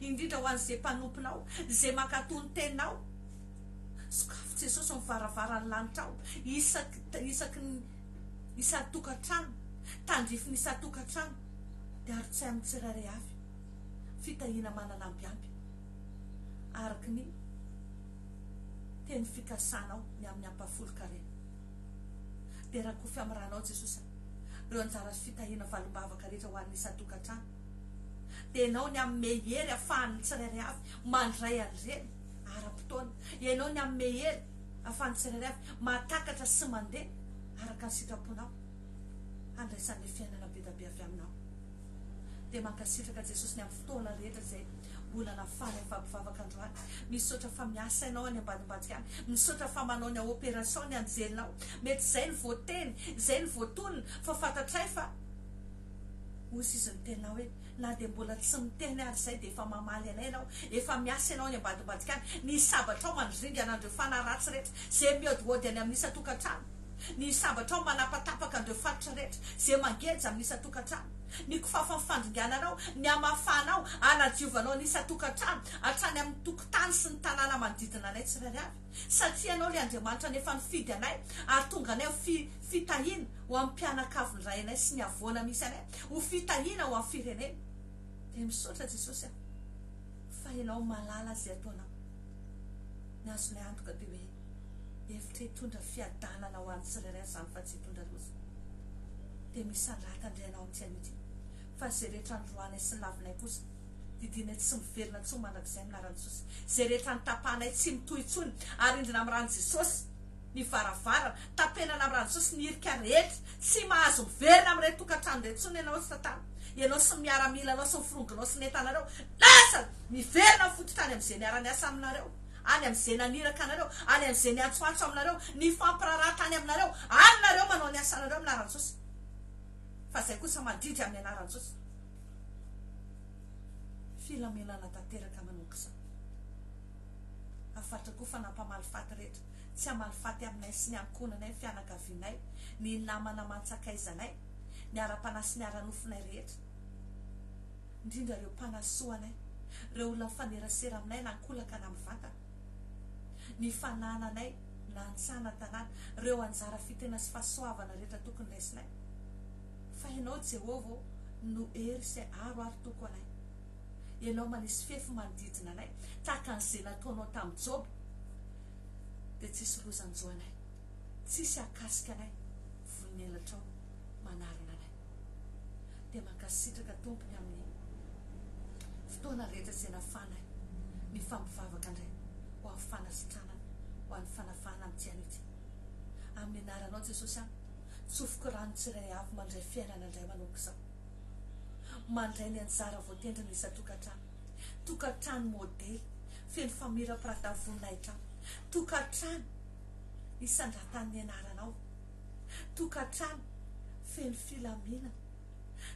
Speaker 1: indrindra ho an'izay mpanomponao izay mankatò ny teninao sokafo Jesosy ny varavaran'ny lanitrao isaky isaky ny isan-tokantrano tandrify ny isan-tokantrano ary tsy amin'ny tsirairay avy, fitahiana manana ampy ampy araka ny teny fikasanao ny amin'ny ampahafolon-karena. Dia rakofy amin'ny ranao Jesosa ireo anjara sy fitahiana valim-bavaka rehetra ho an'ny isan-tokantrano, dia Ianao ny hanome hery ahafahan'ny tsirairay avy mandray an'ireny ara-potoana, Ianao ny hanome hery ahafahan'ny tsirairay avy mahatakatra sy mandeha araka ny sitraponao. handraisan'ilay fiainana be da be avy aminao. Dia mankasitraka Jesosy ny amin'ny fotoana rehetra izay mbola nafahany ny fampivavaka androany. Misaotra fa miasa ianao any ambadimbadika any. Misaotra fa manao ny opération ny anjelinao. Mety izay no voateny, izay no voatonona, fa fantatray fa Hozy Izy ny teninao hoe, na dia mbola tsy miteny ary izay dia efa mamaly anay ianao. Efa miasa ianao any ambadimbadika any. Ny sabatrao mandringana an'ireo fanahy ratsy rehetra izay mihaodihaody any amin'ny isan-tokantrano. ny sabatrao manapatapaka an'ireo faritra rehetra izay mangeja amin'ny isan-tokantrano, ny kifafan'ny fandringananao, ny hamafanao, hanadiovanao ny isan-tokantrano, hatrany amin'ny tokotany sy ny tanàna manodidina anay tsirairay avy, satria Ianao ilay Andriamanitra nefa nifidy anay ary tonga anay ho fi, fitahiana ho amin'ny mpianakavy ny ray anay sy ny havoana misy anay, ho fitahiana ho amin'ny firenena. Dia misaotra Jesosy aho fa Ianao malala izay ataonao. Ny azonay antoka dia hoe. Efitra hitondra fiadanana ho an'ny tsirairay izany fa tsy hitondra loza. Dia misandrata indray ianao amin'ity anio ity. Fa izay rehetra androanay sy lavinay kosa, didianay tsy miverina intsony mandrakizay amin'ny anaran'i Jesosy. Izay rehetra notapahanay tsy mitohy intsony. Arindrina amin'ny ran'i Jesosy ny varavarana. Tapenana amin'ny ran'i Jesosy ny hirika rehetra. Tsy mahazo miverina amin'ireny tokantrano ireny intsony ianao sy Satana. Ianao sy ny miaramilanao sy ny firongonao sy ny entanareo. Lasa! Miverina fototra any amin'izay niara-niasa aminareo. any amin' izay naniraka anareo, any amin' izay niantsoantso aminareo, nifampiraharaha tany aminareo, any nareo manao ny asanareo amin' aran-tsosa, fa izay kosa mandidy amin' ny anaran-tsosa. Filaminana tanteraka manao kizao. Hafaritra koa fa nampamaly faty rehetra, tsy hamaly faty aminay sy ny ankohonanay, ny fianakavianay, ny namana aman-tsakaizanay, ny ara-panahy sy ny ara-nofonay rehetra. indrindra ireo mpanasoa anay, ireo olona mifanerasera aminay na ankolaka na mivantana, ny fanananay na an-tsaha na an-tanàna, ireo anjara fitena sy fahasoavana rehetra tokony raisinay. Fa Ianao, Jehovah ô, no hery sy aro ary toko anay. Ianao manisy fefy manodidina anay, tahaka an'izay nataonao tamin'i Joba, dia tsy hisy lozan-jo anay, tsy hisy hahakasika anay, vonon'elatrao manarona anay. dia mankasitraka tompony amin'ny fotoana rehetra izay nafanay nifampivavaka ndray ho amin'ny fanasitranana ho an'ny fanafahana amin'ny tsy an'itsy amin'ny anaranao Jesosy aho tsofiko rano tsiray avy mandray fiainana ndray manomboka izao mandray ny anjara voatendry ny isan-tokantrano tokantrano modely feno famirapirata voninahitra tokantrano isandratan'ny anaranao tokantrano feno filaminana,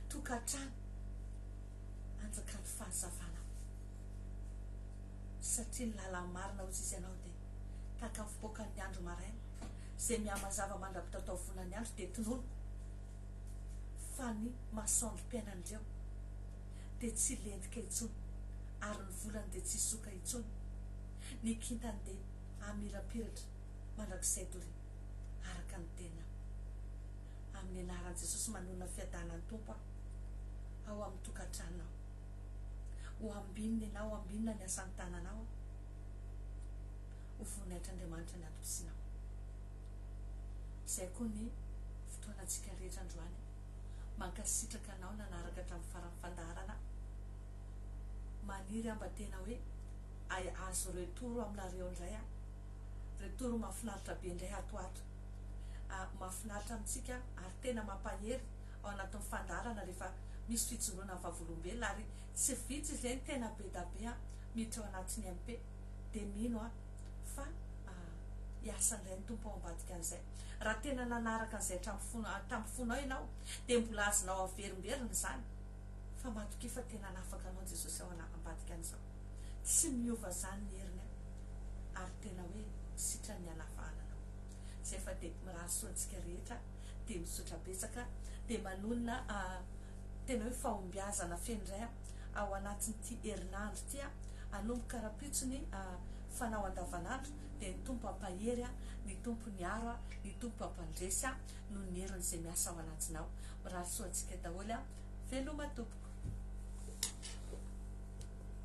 Speaker 1: tokantrano anjakan'ny fahazavana satria ny lalany marina hozy izy ianao dia tahaka ny fipoakan'ny andro maraina izay mihamazava mandra-pitataovonan'ny andro dia tonony fa ny masoandrom-piainan'ireo dia tsy lentika intsony ary ny volany dia tsy soka intsony ny kintany dia amirapiratra mandrakizay doria araka ny tena. Amin'ny anaran'i Jesosy manonona fiadanan'ny Tompo aho ao amin'ny tokantranonao. Ho ambinina ianao, ho ambinina ny asan'ny tananao aho. Ho voninahitr'Andriamanitra ny atom-pisinao. Izay koa ny fotoanantsika rehetra androany. Mankasitraka anao nanaraka hatramin'ny faran'ny fandaharana. Maniry aho mba tena hoe azo retour aminareo indray aho. Re Toro mafinaritra be indray ato ato a! Mafinaritra amintsika ary tena mampahery ao anatin'ny fandaharana rehefa misy fijoroana ny vavolombelona ary tsy vitsy izay ny tena be da be a! miditra ao anatin'ny MP dia mino a! fa hiasa indray ny Tompo ao ambadika an'izay. Raha tena nanaraka an'izay hatramin'ny fon tamin'ny fonao ianao dia mbola azonao averimberina izany fa matokia fa tena hanafaka anao Jesosy ao ambadika an'izao. Tsy miova zany ny heriny an! Ary tena hoe sitran'ny halafahanana o! Zay fa de mirary soa antsika rehetra, de misotra betsaka, de manonona a tena hoe fahombiazana feno indray an! Ao anatin'ity herinandro ity an! Anomboka rahampitso ny a fanao andavanandro de ny Tompo hampahery an! Ny Tompo niaro an! Ny Tompo hampandresy an! Noho ny heriny zay miasa ao anatinao! Mirary soa antsika daholo an! Veloma tompoko.